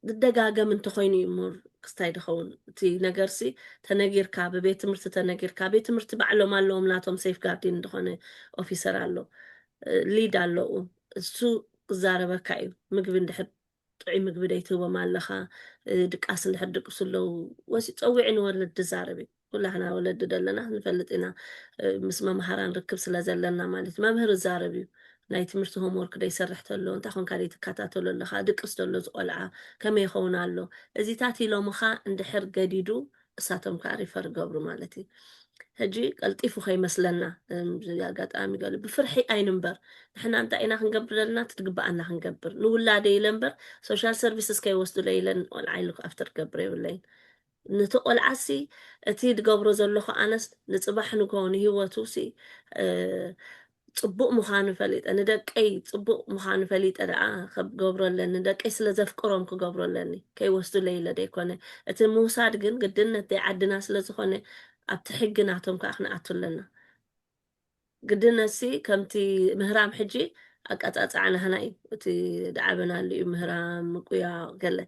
ዝደጋገም እንተኾይኑ እዩ እሞ ክስታይ ድኸውን እቲ ነገርሲ ተነጊርካ ብቤት ትምህርቲ ተነጊርካ ቤት ትምህርቲ ባዕሎም ኣለዎም ናቶም ሴፍ ጋርዲን ዝኾነ ኦፊሰር ኣሎ እ፣ ሊድ ኣለኡ እሱ ክዛረበካ እዩ ምግቢ እንድሕር ጥዑይ ምግቢ ደይትህቦም ኣለኻ ድቃስ እንድሕር ድቅሱ ኣለው ወሲኡ ፀዊዑ ንወለድ ድዛረብ እዩ ኩላህና ወለዲ ደለና ንፈልጥ ኢና ምስ መምሃራን ርክብ ስለ ዘለና ማለት መምህር እዛረብ እዩ ናይ ትምህርቲ ሆምወርክ ደይሰርሕ ተሎ እንታይ ኮንካ ደይትከታተሎ ኣለኻ ድቅስ ተሎ ዝቆልዓ ከመይ ይኸውን ኣሎ እዚታት ኢሎምኻ እንድሕር ገዲዱ እሳቶም ከዓ ሪፈር ገብሩ ማለት እዩ ሕጂ ቀልጢፉ ከይመስለና ኣጋጣሚ ገሉ ብፍርሒ ኣይንንበር ንሕና እንታይ ኢና ክንገብር ዘለና ትትግባኣና ክንገብር ንውላደ ኢለ እምበር ሶሻል ሰርቪስስ ከይወስዱለ ኢለን ቆልዓ ኢሉ ኣብቲ ክገብረ የብለይን ነቲ ቆልዓሲ እቲ ዝገብሮ ዘለኹ ኣነስ ንፅባሕ ንግሆ ንሂወቱ ሲ ጽቡቅ ምኻኑ ፈሊጠ ንደቀይ ጽቡቅ ምኻኑ ፈሊጠ ደኣ ክገብሮ ኣለኒ ደቀይ ስለ ዘፍቅሮም ክገብሮ ኣለኒ ከይወስዱለይ ኢለ ደይኮነ እቲ ምውሳድ ግን ግድነት ደይ ዓድና ስለ ዝኾነ ኣብቲ ሕጊ ናቶም ከኣ ክንኣቱ ኣለና ግድነትሲ ከምቲ ምህራም ሕጂ ኣቀጻጽዓ ናህና እዩ እቲ ድዓበናሉ እዩ ምህራም ምቁያቕ ገለ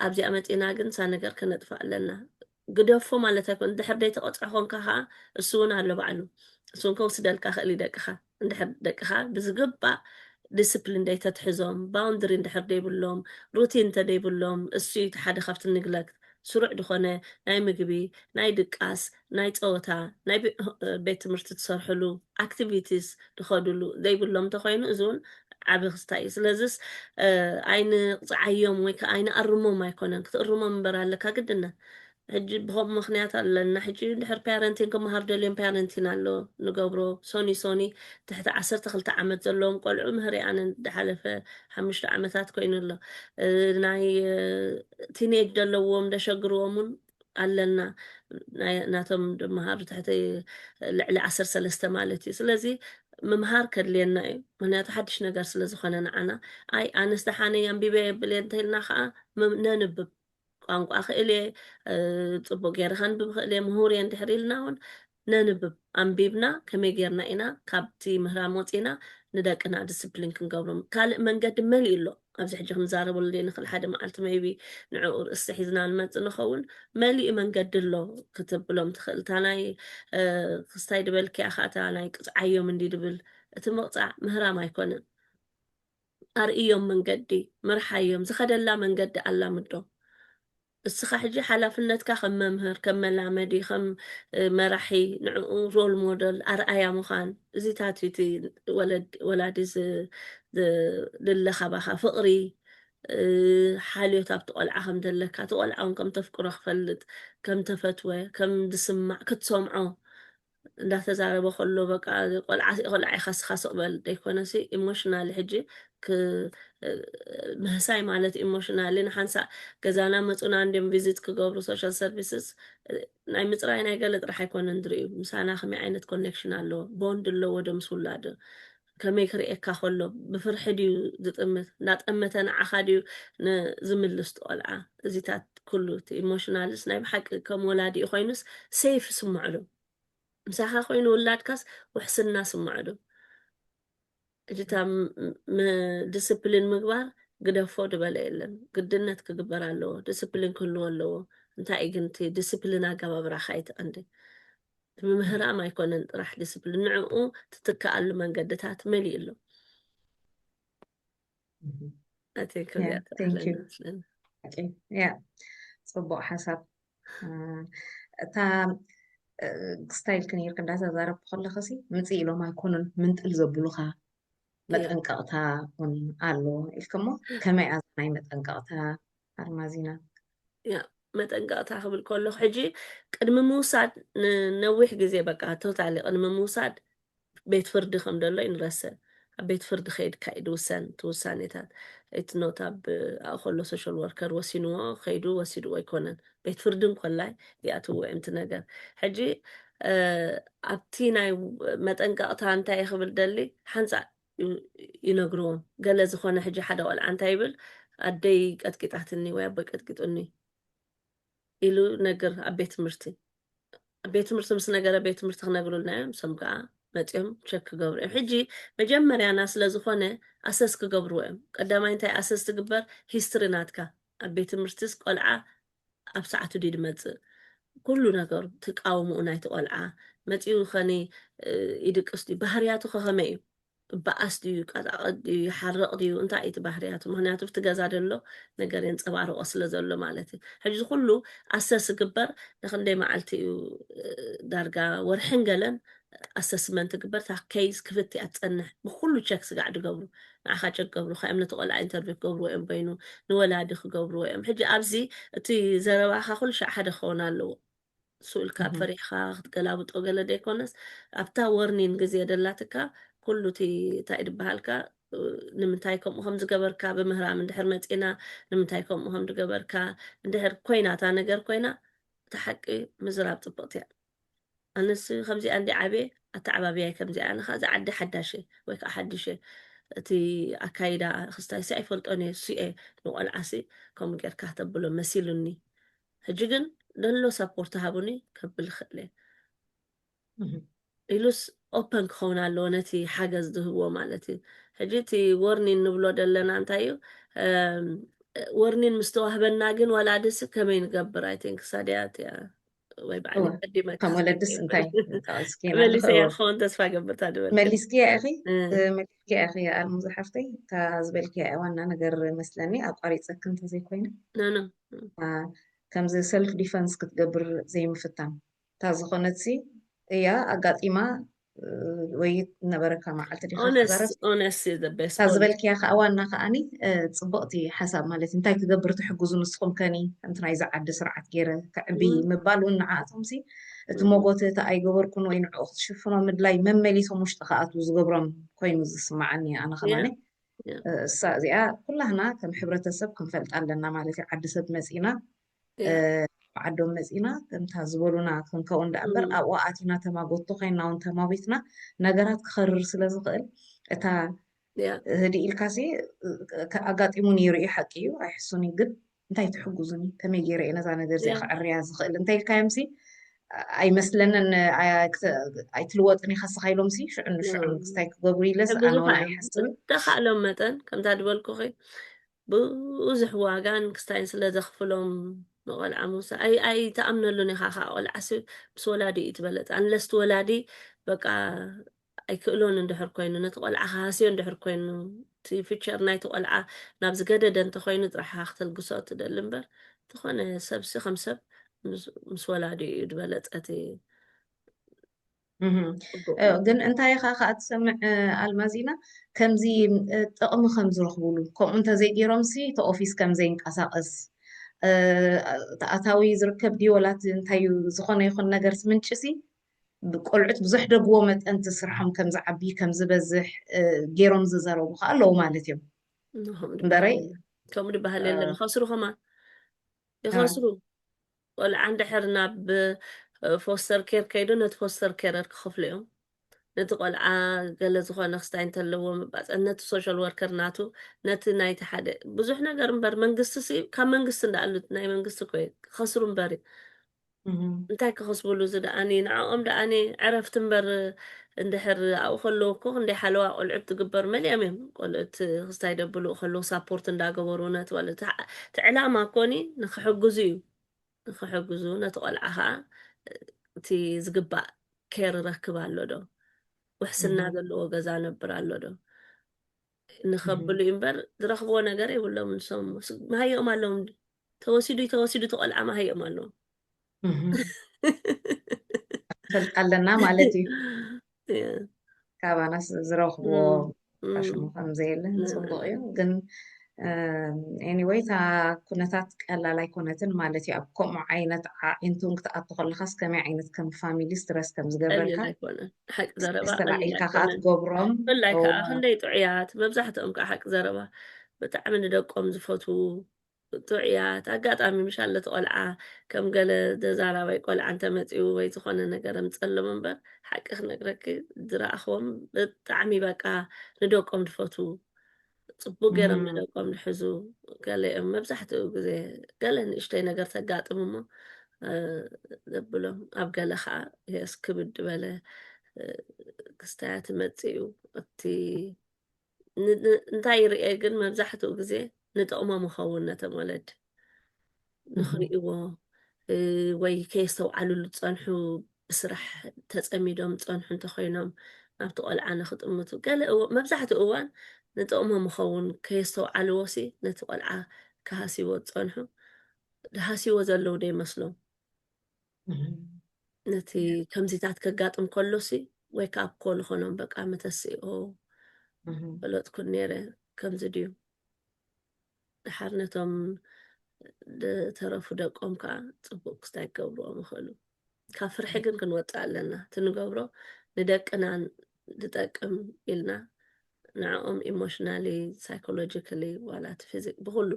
ኣብዚኣ መጺና ግን ሳነገር ክነጥፋ ኣለና ግደፎ ማለት ኣይኮነን እንድሕር ደይተቀጽዖ ኮንካ ከኣ እሱ ውን ኣሎ ባዕሉ እሱ ውን ከውስደልካ ይክእል እዩ ደቅካ እንድሕር ደቅካ ብዝግባእ ዲስፕሊን ደይተትሕዞም ባውንድሪ እንድሕር ደይብሎም ሩቲን እንተደይብሎም እሱ እዩ እቲ ሓደ ካብቲ ንግለክት ስሩዕ ድኮነ ናይ ምግቢ ናይ ድቃስ ናይ ጸወታ ናይ ቤት ትምህርቲ ትሰርሕሉ ኣክቲቪቲስ ድኸዱሉ ዘይብሎም ተኾይኑ እዚ ውን ዓቢ ክስታይ እዩ ስለዝስ ኣይንቕጽዓዮም ወይ ከኣ ኣይንኣርሞም ኣይኮነን ክትእርሞም እምበር ኣለካ ግድነት ሕጂ ብኸምኡ ምክንያት ኣለና ሕጂ ድሕር ፓረንቲን ክመሃሩ ደልዮም ፓረንቲን ኣሎ ንገብሮ ሶኒ ሶኒ ትሕቲ ዓሰርተ ክልተ ዓመት ዘለዎም ቆልዑ ምህሪኣን ዝሓለፈ ሓሙሽተ ዓመታት ኮይኑ ኣሎ ናይ ቲኔጅ ዘለዎም ደሸግርዎምን ኣለና ናቶም ድመሃሩ ትሕቲ ልዕሊ ዓሰር ሰለስተ ማለት እዩ ስለዚ ምምሃር ከድልየና እዩ ምክንያቱ ሓድሽ ነገር ስለ ዝኾነ ንዓና ኣይ ኣነስ ደሓነ ኣንቢበ የብል እየ እንተይልና ከዓ ነንብብ ቋንቋ ክእል እየ ፅቡቅ ገይረ ከንብብ ክእል እየ ምሁር እየ እንድሕር ኢልና እውን ነንብብ ኣንቢብና ከመይ ጌርና ኢና ካብቲ ምህራም ወጺእና ንደቅና ድስፕሊን ክንገብሮም ካልእ መንገዲ መሊኡ ኣሎ ኣብዚ ሕጂ ክንዛረበሉ ዘይንኽእል ሓደ መዓልቲ መይቢ ንዕኡ ርእስቲ ሒዝና ንመጽእ ንኸውን መሊኡ መንገዲ ኣሎ ክትብሎም ትኽእል እታ ናይ ክስታይ ድበልክያ ከኣ እታ ናይ ቅጽዓዮም እንዲ ድብል እቲ ምቕጻዕ ምህራም ኣይኮነን ኣርእዮም መንገዲ፣ ምርሓዮም፣ ዝኸደላ መንገዲ ኣላምዶ። እስኻ ሕጂ ሓላፍነትካ ከም መምህር፣ ከም መላመዲ፣ ከም መራሒ ንዕኡ ሮል ሞደል፣ ኣርኣያ፣ ምዃን እዚታት እዩ እቲ ወለዲ ወላዲ ዝድለ ካባኻ ፍቕሪ፣ ሓልዮት ኣብቲ ቆልዓ ከም ዘለካ፣ እቲ ቆልዓ እውን ከም ተፍቅሮ ክፈልጥ፣ ከም ተፈትወ ከም ዝስማዕ ክትሰምዖ እንዳተዛረበ ከሎ በቃ ቆልዓ ቆልዓ ኢኻ ስኻ ስቕ በል ዘይኮነሲ ኢሞሽናሊ ሕጂ ምህሳይ ማለት ኢሞሽናሊ ንሓንሳእ ገዛና መፁና እንዲም ቪዚት ክገብሩ ሶሻል ሰርቪስስ ናይ ምፅራይ ናይ ገለ ጥራሕ ኣይኮነን ዝርእዩ ምሳና ከመይ ዓይነት ኮኔክሽን ኣለዎ ቦንድ ኣለዎ ዶ ምስ ውላዱ ከመይ ክርእየካ ከሎ ብፍርሒ ድዩ ዝጥምት እንዳጠመተ ንዓኻ ድዩ ዝምልስ እቲ ቆልዓ እዚታት ኩሉ እቲ ኢሞሽናልስ ናይ ብሓቂ ከም ወላዲኡ ኮይኑስ ሴፍ ይስምዑ ዶ ምሳኻ ኮይኑ ውላድካስ ውሕስና ስምዑ ዶ እጅታ ዲስፕሊን ምግባር ግደፎ ድበለ የለን ግድነት ክግበር ኣለዎ ዲስፕሊን ክህልዎ ኣለዎ እንታይ ግን እቲ ዲስፕሊን ኣገባብራኻ ይትቐንዲ እቲ ምምህራም ኣይኮነን ጥራሕ ዲስፕሊን ንዕኡ ትትክኣሉ መንገድታት መሊኡ ኣሎ ኣተይ ክብያ ፅቡቅ ሓሳብ እታ ስታይል ክንይርክ እንዳተዛረብኩ ከለክ ሲ ምፅ ኢሎም ኣይኮኑን ምንጥል ዘብሉካ መጠንቀቕታ ውን ኣሎ ኢልክሞ ከመይ ኣዛ ናይ መጠንቀቕታ ኣርማዚና መጠንቀቕታ ክብል ከለኹ ሕጂ ቅድሚ ምውሳድ ንነዊሕ ግዜ በቃ ቶታሊ ቅድሚ ምውሳድ ቤት ፍርዲ ከም ደሎ ይንረስዕ ኣብ ቤት ፍርዲ ከይድካ እዩ ድውሰን እቲ ውሳኔታት እቲ ኖት ኣብ ኣብኡ ከሎ ሶሻል ወርከር ወሲንዎ ከይዱ ወሲድዎ ኣይኮነን ቤት ፍርዲ እንኮላይ ይኣትዎ እዮም እቲ ነገር ሕጂ ኣብቲ ናይ መጠንቀቕታ እንታይ ክብል ደሊ ሓንፃእ ይነግርዎም ገለ ዝኾነ ሕጂ ሓደ ቆልዓ እንታይ ይብል ኣደይ ቀጥቂጣትኒ ወይ ኣቦይ ቀጥቂጡኒ ኢሉ ነግር ኣብ ቤት ትምህርቲ ኣብ ቤት ትምህርቲ ምስ ነገረ ቤት ትምህርቲ ክነግሩልና እዮም ሰም ከዓ መፅኦም ቸክ ክገብሩ እዮም ሕጂ መጀመርያና ስለ ዝኾነ ኣሰስ ክገብርዎ እዮም ቀዳማይ እንታይ ኣሰስ ትግበር ሂስትሪ ናትካ ኣብ ቤት ትምህርትስ ቆልዓ ኣብ ሰዓቱ ድዩ ዝመጽእ ኩሉ ነገሩ እቲ ቃውምኡ ናይቲ ቆልዓ መጺኡ ኸኒ ይድቅስ ድዩ ባህርያቱ ከኸመይ እዩ ባኣስ ድዩ ቀጣቐጥ ድዩ ይሓርቕ ድዩ እንታይ እዩ እቲ ባህርያቱ ምክንያቱ ብቲ ገዛ ደሎ ነገር የንፀባርቆ ስለ ዘሎ ማለት እዩ ሕጂ እዚ ኩሉ ኣሰስ ዝግበር ንክንደይ መዓልቲ እዩ ዳርጋ ወርሕን ገለን ኣሰስመንት ግበር እታ ኬይዝ ክፍት እያ ትጸንሕ ብኩሉ ቸክ ስጋዕ ድገብሩ ንዓኻ ቸክ ገብሩካ እዮም ነቲ ቆልዓ ኢንተርቪው ክገብርዎ እዮም በይኑ ንወላዲ ክገብርዎ እዮም ሕጂ ኣብዚ እቲ ዘረባኻ ኩሉ ሻዕ ሓደ ክኸውን ኣለዎ እሱ ኢልካ እህም፣ ፈሪሕኻ ክትገላብጦ ገለ ዘይኮነስ ኣብታ ወርኒን ግዜ ደላትካ ኩሉ እቲ እንታይ ድበሃልካ እ፣ ንምንታይ ከምኡ ከም ዝገበርካ ብምህራም እንድሕር መጺና ንምንታይ ከምኡ ከም ዝገበርካ እንድሕር ኮይና እታ ነገር ኮይና እታ ሓቂ ምዝራብ ጽብቕቲ እያ ኣነስ ከምዚኣ እንድየ ዓብየ ኣተዓባብያይ ከምዚኣ ኣነ ከኣ እዛ ዓዲ ሓዳሽ እየ ወይ ከዓ ሓዱሽ እየ እቲ ኣካይዳ ክስታይሲ ኣይፈልጦን እየ እሱ እየ ንቆልዓሲ ከምኡ ጌርካ ተብሎ መሲሉኒ ሕጂ ግን ደሎ ሳፖርት ሃቡኒ ከብል ይኽእል እየ ኢሉስ ኦፐን ክኸውን ኣለዎ ነቲ ሓገዝ ዝህብዎ ማለት እዩ ሕጂ እቲ ወርኒን ንብሎ ዘለና እንታይ እዩ ወርኒን ምስ ተዋህበና ግን ወላድስ ከመይ ንገብር ኣይቲንክ ሳድያ እቲያ ወይ ባዕሊ ቀዲመ ከም ወለድስ እንታይ መሊሰ እያ ክኸውን ተስፋ ገብር እታ ድበል መሊስክያ ኢኺ መሊስክያ ኢኺ ኣልሙ ዝሓፍተይ እታ ዝበልክያ እያ ዋና ነገር መስለኒ ኣቋሪፀክ እንተዘይኮይነ ከምዚ ሰልፍ ዲፈንስ ክትገብር ዘይምፍታን እታ ዝኾነትሲ እያ ኣጋጢማ ወይ ነበረካ መዓልቲ ዲካ ክዛረብ ካብ ዝበልክያ ከዓ ዋና ከዓኒ ፅቡቅቲ ሓሳብ ማለት እዩ እንታይ ክገብር ትሕግዙ ንስኩም ከኒ ከምቲ ናይዚ ዓዲ ስርዓት ገይረ ክዕቢ ምባል እውን ንዓኣቶም ሲ እቲ መጎቲ እቲ ኣይገበርኩን ወይ ንዕኡ ክትሽፍኖ ምድላይ መመሊሶም ውሽጢ ክኣትዉ ዝገብሮም ኮይኑ ዝስማዓኒ ኣነ ከማኒ እሳ እዚኣ ኩላህና ከም ሕብረተሰብ ክንፈልጣ ኣለና ማለት እዩ ዓዲ ሰብ መፂና ዓዶም መጺና ከምታ ዝበሉና ክንከውን ደኣ እምበር ኣብኡ ኣቲና ተማጎቶ ኮይና እውን ተማዊትና ነገራት ክኸርር ስለ ዝኽእል እታ ህድእ ኢልካሲ ኣጋጢሙ ነይሩ እዩ ሓቂ እዩ ኣይሕሱን እዩ ግን እንታይ ትሕጉዙኒ ከመይ ገይረ እየ ነዛ ነገር እዚኣ ክዕርያ ዝኽእል እንታይ ኢልካዮምሲ ኣይመስለንን ኣይትልወጥን ኢኻ ስኻ ኢሎምሲ ሽዑ ንሽዑ ክስታይ ክገብሩ ኢለስ ኣነ ኣይሓስብን ተኻእሎም መጠን ከምታ ዝበልኩኺ ብዙሕ ዋጋን ክስታይን ስለ ዘኽፍሎም ንቆልዓ ምውሳድ ኣይ ኣይ ተኣምነሉን ኢኻ ከኣ ቆልዓሲ ምስ ወላዲ እዩ ትበለጽ ኣንለስ እቲ ወላዲ በቃ ኣይክእሎን እንድሕር ኮይኑ ነቲ ቆልዓ ክሃስዮ እንድሕር ኮይኑ እቲ ፊቸር ናይቲ ቆልዓ ናብ ዝገደደ እንተኮይኑ ጥራሕኻ ክተልግሶ እትደሊ እምበር ዝኾነ ሰብሲ ከም ሰብ ምስ ወላዲ እዩ ዝበለጸ እቲ ግን እንታይ ኢኻ ከዓ ትሰምዕ ኣልማዚና ከምዚ ጥቕሚ ከም ዝረኽብሉ ከምኡ እንተዘይገይሮም ሲ እቲ ኦፊስ ከም ዘይንቀሳቐስ ተኣታዊ ዝርከብ ዲወላት እንታይ ዝኾነ ይኹን ነገር ምንጭ ሲ ቆልዑት ብዙሕ ደግዎ መጠን ትስርሖም ከም ዝዓቢ ከም ዝበዝሕ ገይሮም ዝዘረቡ ከዓ ኣለዉ ማለት እዮም እምበረይ ከምኡ ድበሃል የለን ይኸስሩ ኸማ ይኸስሩ ቆልዓ እንድሕር ናብ ፎስተር ኬር ከይዱ ነቲ ፎስተር ኬረር ክኸፍሉ እዮም። ነቲ ቆልዓ ገለ ዝኾነ ክስታይ እንተለዎ ምባፀ ነቲ ሶሻል ወርከር ናቱ ነቲ ናይቲ ሓደ ብዙሕ ነገር እምበር መንግስቲ ሲ ካብ መንግስቲ እንዳኣሉ ናይ መንግስቲ ኮይ ክኸስሩ እምበር እዩ እንታይ ክኸስብሉ እዚ ደኣኒ ንዕኦም ደኣኒ ዕረፍቲ እምበር እንድሕር ኣብኡ ከለዉ እኮ ክንደይ ሓለዋ ቆልዑት ትግበር መሊኦም እዮም ቆልዑት ክስታይ ደብልኡ ከለዉ ሳፖርት እንዳገበሩ ነቲ ቆልዑ እቲ ዕላማ ኮኒ ንክሕግዙ እዩ ንክሕግዙ ነቲ ቆልዓ ከዓ እቲ ዝግባእ ኬር ረክብ ኣሎ ዶ ውሕስና ዘለዎ ገዛ ነብር ኣሎ ዶ ንከብሉ እዩ እምበር ዝረክብዎ ነገር የብሎም ንሶም መሃየኦም ኣለዎም ተወሲዱ ተወሲዱ እቲ ቆልዓ ማሃዮም ኣሎ ፈልጥ ኣለና ማለት እዩ ካባናስ ዝረኽብዎ ሽሙ ከምዘየለ ፅቡቅ እዩ ግን ኤኒወይ እታ ኩነታት ቀላል ኣይኮነትን ማለት እዩ ኣብ ከምኡ ዓይነት ዓዒንቱን ክትኣቱ ከለካስ ከመይ ዓይነት ከም ፋሚሊ ስትረስ ከም ዝገብረልካ ተላዒልካ ከዓ ትገብሮም ብላይ ከዓ ክንደይ ጥዑያት መብዛሕትኦም ከዓ ሓቂ ዘረባ ብጣዕሚ ንደቆም ዝፈትዉ ብርቱዕ እያ እቲ ኣጋጣሚ ምሻል ነቲ ቆልዓ ከም ገለ ደዛራባይ ቆልዓ እንተ መጺኡ ወይ ዝኾነ ነገር ኣምጸሎም እምበር ሓቂ ክነግረኪ ዝረኣኽዎም ብጣዕሚ በቃ ንደቆም ድፈትዉ ጽቡቅ ገይሮም እም፣ ንደቆም ድሕዙ ገለኦም መብዛሕትኡ ግዜ ገለ ንእሽተይ ነገር ተጋጥም እሞ እ፣ ዘብሎም ኣብ ገለ ከዓ የስ ክብድ በለ እ፣ ክስታያት መጺኡ እቲ እንታይ ይርኤ ግን መብዛሕትኡ ግዜ ንጥቕሞም ይኸውን ነቶም ወለድ ንኽርእዎ ወይ ከየስተውዓልሉ ዝፀንሑ ብስራሕ ተፀሚዶም ዝፀንሑ እንተኮይኖም ናብቲ ቆልዓ ንክጥምቱ ገለ መብዛሕትኡ እዋን ንጥቕሞም ይኸውን ከየስተውዓልዎ ሲ ነቲ ቆልዓ ክሃስይዎ ዝፀንሑ ሃስይዎ ዘለዉ ዶ ይመስሎም ነቲ ከምዚታት ከጋጥም ከሎ ሲ ወይ ከዓ ኮ ንኾኖም በቃ መተሲ ኦ ፈለጥኩ ነይረ ከምዚ ድዩ ድሓር ነቶም ዝተረፉ ደቆም ከዓ ፅቡቅ ክስታይ ክገብርዎም ይኽእሉ ካብ ፍርሒ ግን ክንወፅእ ኣለና እቲ ንገብሮ ንደቅና ዝጠቅም ኢልና ንዕኦም ኢሞሽናሊ ሳይኮሎጂካሊ ዋላ እቲ ፊዚክ ብኩሉ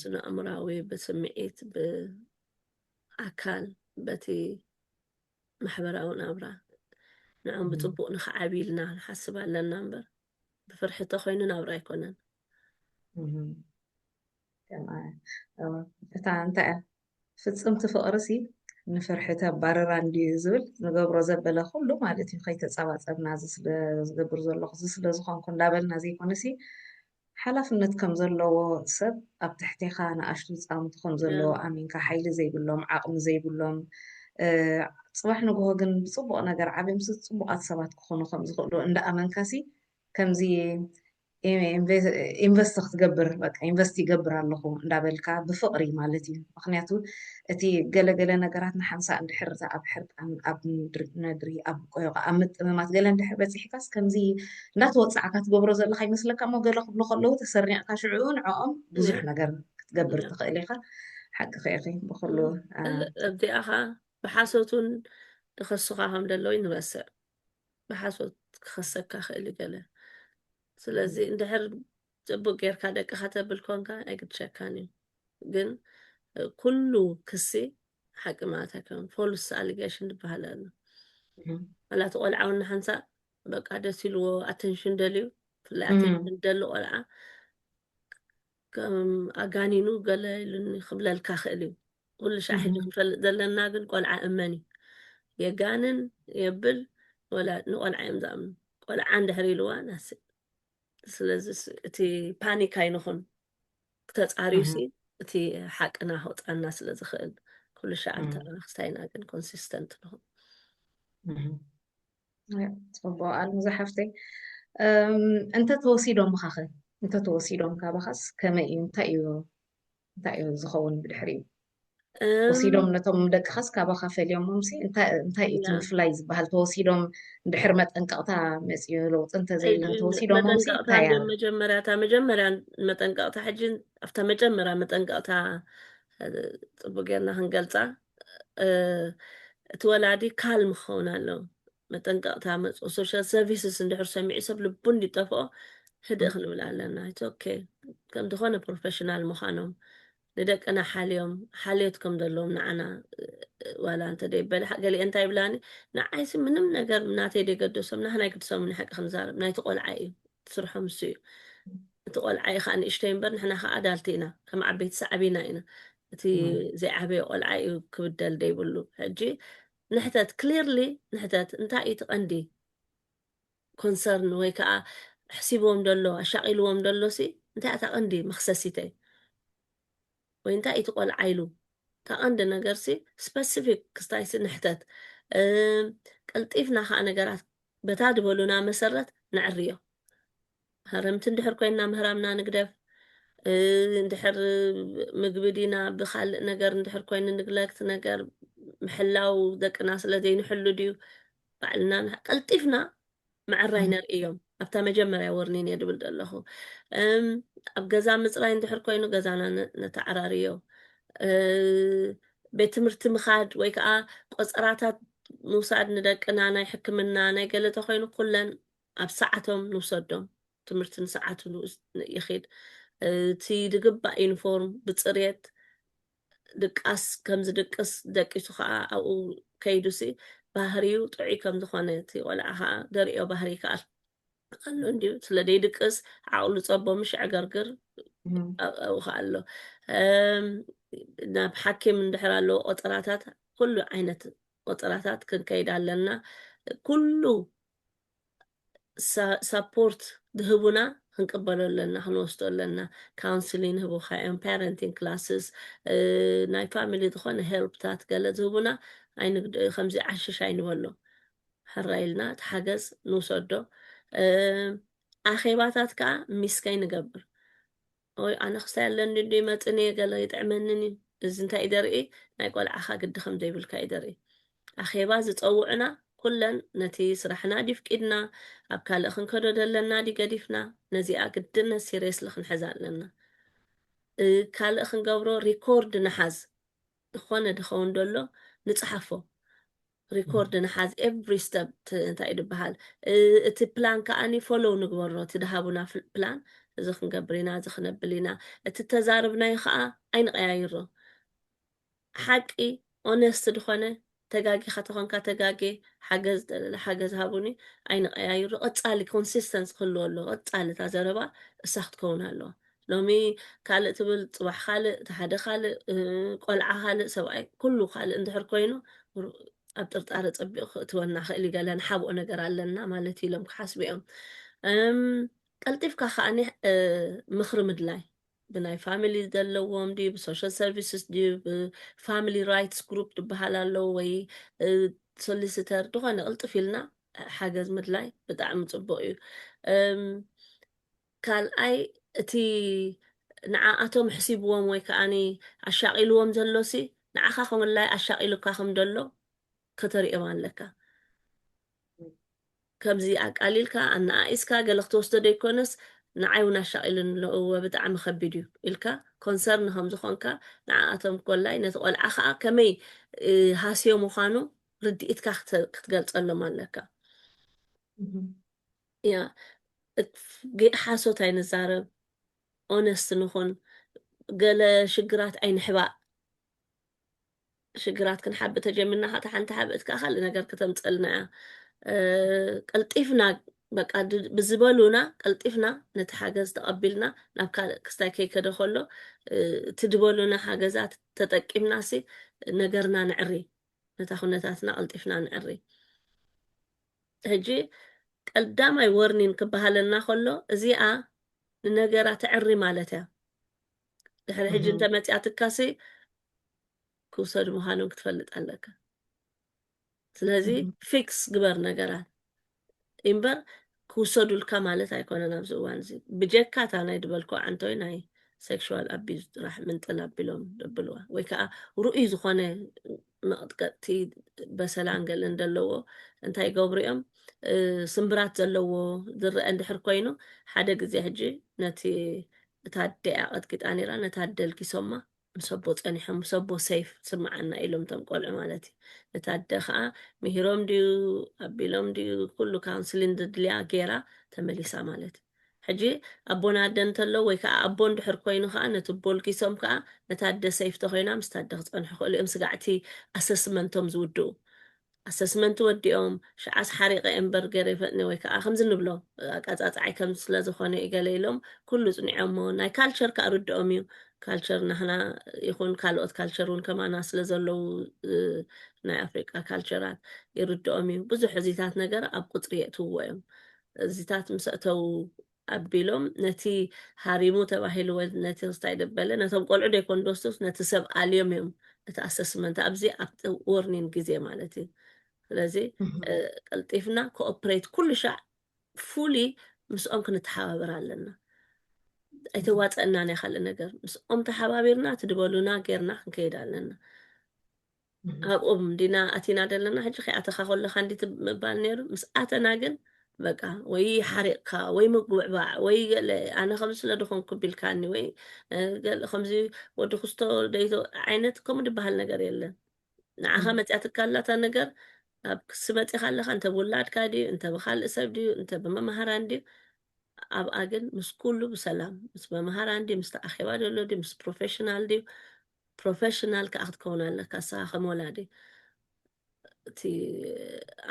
ስነ ኣእምራዊ ብስምዒት ኣካል በቲ ማሕበራዊ ናብራ ንዕኦም ብፅቡቅ ንክዓብይ ኢልና ንሓስብ ኣለና እምበር ብፍርሒ እንተኮይኑ ናብራ ኣይኮነን እታ እንታይ እያ ፍፅምቲ ፍቅርሲ ንፍርሒ ተባርራ እንድዩ ዝብል ንገብሮ ዘበለ ኩሉ ማለት እዩ ከይተፀባፀብና እዚ ዝገብር ዘለኹ እዚ ስለዝኾንኩ እንዳበልና ዘይኮነሲ ሓላፍነት ከም ዘለዎ ሰብ ኣብ ትሕቴኻ ንኣሽቱ ህጻውንቲ ከም ዘለዎ ኣሚንካ ሓይሊ ዘይብሎም ዓቕሚ ዘይብሎም ጽባሕ ንግሆ ግን ብጽቡቕ ነገር ዓብዮምሲ ጽቡቓት ሰባት ክኾኑ ከም ዝኽእሉ እንዳ ኣመንካሲ ከምዚ ኢንቨስት ክትገብር በቃ ኢንቨስት ይገብር ኣለኹ እንዳበልካ ብፍቕሪ ማለት እዩ ምኽንያቱ እቲ ገለ ገለ ነገራት ንሓንሳእ እንድሕር እታ ኣብ ሕርቃን ኣብ ነድሪ ኣብ ቆዮቃ ኣብ ምጥምማት ገለ እንድሕር በጺሕካስ ከምዚ እንዳተወጻዕካ ትገብሮ ዘለኻ ይመስለካ እሞ ገለ ክብሉ ከለዉ ተሰሪዕካ ሽዑ ንዕኦም ብዙሕ ነገር ክትገብር ትኽእል ኢኻ ሓቅኺ ኢኺ ብኹሉ ኣብዚኣ ኸዓ ብሓሶት እውን ይኸሱኻ ከም ደለዉ ይንረስዕ ብሓሶት ክኸሰካ ክእል ገለ ስለዚ እንድሕር ጽቡቅ ጌርካ ደቂ ከተብል ኮንካ ኣይግድሸካን እዩ ግን ኩሉ ክሲ ሓቂ ማለት ኣይኮነን ፎልስ ኣሊጌሽን ዝበሃል ኣሎ ዋላ እቲ ቆልዓ እውን ንሓንሳእ በቃ ደስ ኢልዎ ኣተንሽን ደልዩ ብፍላይ ኣተንሽን ደሊ ቆልዓ ከም ኣጋኒኑ ገለ ኢሉኒ ክብለልካ ክእል እዩ ኩሉ ሻዕ ሕጂ ክንፈልጥ ዘለና ግን ቆልዓ እመን እዩ የጋንን የብል ንቆልዓ እዮም ዝኣምኑ ቆልዓ እንድሕር ኢልዋ ናስእ ስለዚ እቲ ፓኒክ ኣይንኹን ተፃርዩ ሲ እቲ ሓቅና ክውፃና ስለ ዝኽእል ኩሉ ሻዕ እንተለና ክስታይ ኢና ግን ኮንሲስተንት ንኹን ፅቡቅ ኣልምዛ ሓፍተይ እንተተወሲዶምኻ ኸ እንተተወሲዶም ካባኻስ ከመይ እዩ እንታይ እዩ እንታይ እዩ ዝኸውን ብድሕሪኡ ወሲዶም ነቶም ደቅኻስ ካባኻ ፈልዮሞምሲ እንታይ እዩ እቲ ምፍላይ ዝበሃል ተወሲዶም ድሕሪ መጠንቀቕታ መፅኡ ለውጢ እንተዘይለ ተወሲዶሞምሲ እንታይ እያ መጀመርያ እታ መጀመርያ መጠንቀቕታ ሕጂ ኣብታ መጀመርያ መጠንቀቕታ ፅቡቅ ጌርና ክንገልፃ እቲ ወላዲ ካልም ክኸውን ኣለዎ መጠንቀቕታ መጽኡ ሶሻል ሰርቪስስ እንድሕር ሰሚዑ ሰብ ልቡ እንዲጠፍኦ ህድእ ክንብል ኣለና ኢትስ ኦኬ ከም ዝኾነ ፕሮፌሽናል ምዃኖም ንደቅና ሓልዮም ሓልዮት ከም ዘለዎም ንዓና ዋላ እንተ ደይበለ ገሊአ እንታይ ይብላኒ ንዓይሲ ምንም ነገር ናተይ ደይገደሶም ናህና ይግድሶም ንሓቂ ክንዛረብ ናይቲ ቆልዓ እዩ ስርሖም እሱ እዩ እቲ ቆልዓ እዩ ከዓ ንእሽተይ እምበር ንሕና ከዓ ኣዳልቲ ኢና ከም ዓበይቲ ሰዓቢና ኢና እቲ ዘይዓበየ ቆልዓ እዩ ክብደል ደይብሉ ሕጂ ንሕተት clearly ንሕተት እንታይ እዩ እቲ ቀንዲ ኮንሰርን ወይ ከዓ ኣሕሲብዎም ደሎ ኣሻቒልዎም ደሎ ሲ እንታይ እታ ቀንዲ መኽሰሲተይ ወይ እንታይ እዩ እቲ ቆልዓ ኢሉ እታ ቀንዲ ነገር ሲ ስፐሲፊክ ክስታይ ሲ ንሕተት ቀልጢፍና ከዓ ነገራት በታ ዝበሉና መሰረት ነዕርዮ ሃረምቲ እንድሕር ኮይና ምህራምና ንግደፍ እንድሕር ምግቢ ዲና ብካልእ ነገር እንድሕር ኮይኑ ንግለክት ነገር ምሕላው ደቅና ስለ ዘይንሕሉ ድዩ ባዕልና ቀልጢፍና ምዕራይ ነርእዮም ኣብታ መጀመርያ ወርኒን እየ ድብል ዘለኹ ኣብ ገዛ ምፅራይ እንድሕር ኮይኑ ገዛና ነተዓራርዮ ቤት ትምህርቲ ምኻድ ወይ ከዓ ቆፀራታት ምውሳድ ንደቅና ናይ ሕክምና ናይ ገለ ተኮይኑ ኩለን ኣብ ሰዓቶም ንውሰዶም ትምህርቲ ንሰዓቱ ይኺድ እቲ ዝግባእ ዩኒፎርም ብፅሬት ድቃስ ከም ዝድቅስ ደቂሱ ከዓ ኣብኡ ከይዱሲ ባህሪኡ ጥዑይ ከም ዝኾነ እቲ ቆልዓ ከዓ ደርእዮ ባህሪ ይከኣል ኣሎ እንዲዩ ስለ ዘይድቅስ ዓቕሉ ፀቦ ምሽ ዕገርግር ኣብኡ ከዓ ኣሎ ናብ ሓኪም እንድሕር ኣለዎ ቆጠራታት ኩሉ ዓይነት ቆጠራታት ክንከይድ ኣለና ኩሉ ሳፖርት ድህቡና ክንቅበሎ ኣለና ክንወስዶ ኣለና ካውንስሊን ህቡካ እዮም ፓረንቲንግ ክላስስ ናይ ፋሚሊ ዝኾነ ሄልፕታት ገለ ዝህቡና ከምዚ ዓሽሽ ኣይንበሎ ሕራ ኢልና እቲ ሓገዝ ንውሰዶ ኣኼባታት ከዓ ሚስከይ ንገብር ኦይ ኣነ ክሳይ ኣለኒ እንዶ ይመጽን እየ ገለ ይጥዕመንን እዩ እዚ እንታይ እዩ ደርኢ ናይ ቆልዓኻ ግዲ ከም ዘይብልካ እዩ ደርኢ ኣኼባ ዝጸውዑና ኩለን ነቲ ስራሕና ድዩ ፍቂድና ኣብ ካልእ ክንከዶ ዘለና ድዩ ገዲፍና ነዚኣ ግድነት ሲሪየስሊ ክንሕዛ ኣለና ካልእ ክንገብሮ ሪኮርድ ንሓዝ ዝኾነ ድኸውን ደሎ ንጽሓፎ ሪኮርድ ንሓዝ ኤቭሪ ስተፕ እንታይ እዩ ድበሃል እቲ ፕላን ከዓኒ ፎሎው ንግበሮ እቲ ድሃቡና ፕላን እዚ ክንገብር ኢና እዚ ክነብል ኢና እቲ ተዛርብናዮ ከዓ ኣይንቀያይሮ ሓቂ ኦነስት ድኾነ ተጋጊኻ ተኾንካ ተጋጌ ሓገዝ ደለለ ሓገዝ ሃቡኒ ኣይንቀያይሩ ቀጻሊ ኮንሲስተንስ ክህልዎ ኣለዎ ቀጻሊ እታ ዘረባ እሳ ክትከውን ኣለዋ ሎሚ ካልእ ትብል ፅባሕ ካልእ እቲ ሓደ ካልእ ቆልዓ ካልእ ሰብኣይ ኩሉ ካልእ እንድሕር ኮይኑ ኣብ ጥርጣረ ፀቢቑ ክእትወና ክእል እዩ ገለ ንሓብኦ ነገር ኣለና ማለት እዩ ኢሎም ክሓስቡ እዮም ቀልጢፍካ ከዓኒ ምኽሪ ምድላይ ብናይ ፋሚሊ ዘለዎም ድዩ ብሶሻል ሰርቪስስ ድዩ ብፋሚሊ ራይትስ ግሩፕ ዝበሃል ኣለዎ ወይ ሶሊሲተር ዝኾነ ቅልጥፍ ኢልና ሓገዝ ምድላይ ብጣዕሚ ፅቡቅ እዩ ካልኣይ እቲ ንዓኣቶም ኣሕሲብዎም ወይ ከኣ ኣሻቒልዎም ዘሎሲ ንዓኻ ክምላይ ኣሻቒሉካ ከም ደሎ ከተርእዮም ኣለካ። ከምዚ ኣቃሊልካ ኣነኣኢስካ ገለ ክትወስዶ ደይኮነስ ንዓይ እውን ኣሻቒሉኒ ኣሎ እወ ብጣዕሚ ከቢድ እዩ ኢልካ ኮንሰርን ከም ዝኾንካ ንዓኣቶም ኮላይ ነቲ ቆልዓ ከኣ ከመይ ሃስዮ ምዃኑ ርድኢትካ ክትገልጸሎም ኣለካ። እያ ሓሶት ኣይንዛረብ ኦነስት ንኹን ገለ ሽግራት ኣይንሕባእ ሽግራት ክንሓብእ ተጀሚርና ካታ ሓንቲ ሓብእት ከዓ ካልእ ነገር ክተምፀልና እያ ቀልጢፍና በቃ ብዝበሉና ቀልጢፍና ነቲ ሓገዝ ተቐቢልና ናብ ካልእ ክስታይ ከይከደ ከሎ እቲ ድበሉና ሓገዛት ተጠቂምና ሲ ነገርና ንዕሪ ነታ ኩነታትና ቀልጢፍና ንዕሪ ሕጂ ቀዳማይ ወርኒን ክበሃለና ከሎ እዚኣ ንነገራ ተዕሪ ማለት እያ ድሕሪ ሕጂ እህም፣ እንተመፅያትካሲ ክውሰዱ ምዃኖም ክትፈልጥ ኣለካ ስለዚ እህም፣ ፊክስ ግበር ነገራት እምበር ክውሰዱልካ ማለት ኣይኮነን ኣብዚ እዋን እዚ ብጀካ እታ ናይ ድበልኮ ዓንቶይ ናይ ሴክሹዋል ኣቢዝ ጥራሕ ምንጥል ኣቢሎም ደብልዋ ወይ ከዓ ርኡይ ዝኾነ መቕጥቀጥቲ በሰላን ገለን ዘለዎ እንታይ ይገብሩ እዮም ስምብራት ዘለዎ ዝረአ እንድሕር ኮይኑ ሓደ ግዜ ሕጂ ነቲ እታ ኣደያ ቀጥቂጣ ነይራ ነታ ኣደ ልጊሶማ ምስ ኣቦ ፀኒሖም ምስ ኣቦ ሰይፍ ስምዓና ኢሎም እቶም ቆልዑ ማለት እዩ ነታ ኣደ ከዓ ምሂሮም ድዩ ኣቢሎም ድዩ ኩሉ ካውንስሊን ዘድልያ ገይራ ተመሊሳ ማለት እዩ ሕጂ ኣቦን ኣደን እንተሎ ወይ ከኣ ኣቦ እንድሕር ኮይኑ ከኣ ነቲ ቦልጊሶም ከኣ ነታ ኣደ ሰይፍ ተኮይና ምስታ ኣደ ክጸንሑ ክእሉ እዮም ስጋዕ እቲ ኣሰስመንቶም ዝውድኡ ኣሰስመንት ወዲኦም ሽዓስ ሓሪቀ እየ እምበር ገሬ ፈጥነ ወይ ከኣ ከምዚ ንብሎ ኣቃጻጽዓይ ከምዚ ስለ ዝኮነ እዩ ገለ ኢሎም ኩሉ ጽኒዖሞ ናይ ካልቸር ከኣ ርድኦም እዩ ካልቸር ናህና ይኩን ካልኦት ካልቸር እውን ከማና ስለ ዘለዉ ናይ ኣፍሪቃ ካልቸራት ይርድኦም እዩ ብዙሕ እዚታት ነገር ኣብ ቁጽሪ የእትውዎ እዮም እዚታት ምስ ኣእተዉ ኣቢሎም ነቲ ሃሪሙ ተባሂሉ ወይ ነቲ ክስታይ ደበለ ነቶም ቆልዑ ደይኮን ደስቱስ ነቲ ሰብ ኣልዮም እዮም እቲ ኣሰስመንት ኣብዚ ኣብቲ ወርኒን ግዜ ማለት እዩ ስለዚ ቀልጢፍና ኮኦፕሬት ኩሉ ሻዕ ፉሊ ምስኦም ክንተሓባበር ኣለና ኣይተዋፀእና ናይ ካልእ ነገር ምስኦም ተሓባቢርና እቲ ድበሉና ጌርና ክንከይድ ኣለና ኣብኦም እንዲና ኣቲና ዘለና ሕጂ ከይኣተኻ ከለካ እንዲ ምባል ነይሩ ምስ ኣተና ግን በቃ ወይ ሓሪቕካ ወይ ምጉዕባዕ ወይ ገለ ኣነ ከምዚ ስለ ድኾንኩ ቢልካኒ ወይ ገለ ከምዚ ወዲ ክስቶ ደይቶ ዓይነት ከምኡ ድበሃል ነገር የለን ንዓኻ መፅያትካ ኣላታ ነገር ኣብ ክሲ መፂኻ ኣለካ እንተ ብውላድካ ድዩ እንተ ብካልእ ሰብ ድዩ እንተ ብመምሃራን ድዩ ኣብኣ ግን ምስ ኩሉ ብሰላም ምስ መምሃራን ድዩ ምስቲ ኣኼባ ደሎ ድዩ ምስ ፕሮፌሽናል ድዩ ፕሮፈሽናል ከኣ ክትከውን ኣለካ ንስካ ከም ወላዲ እቲ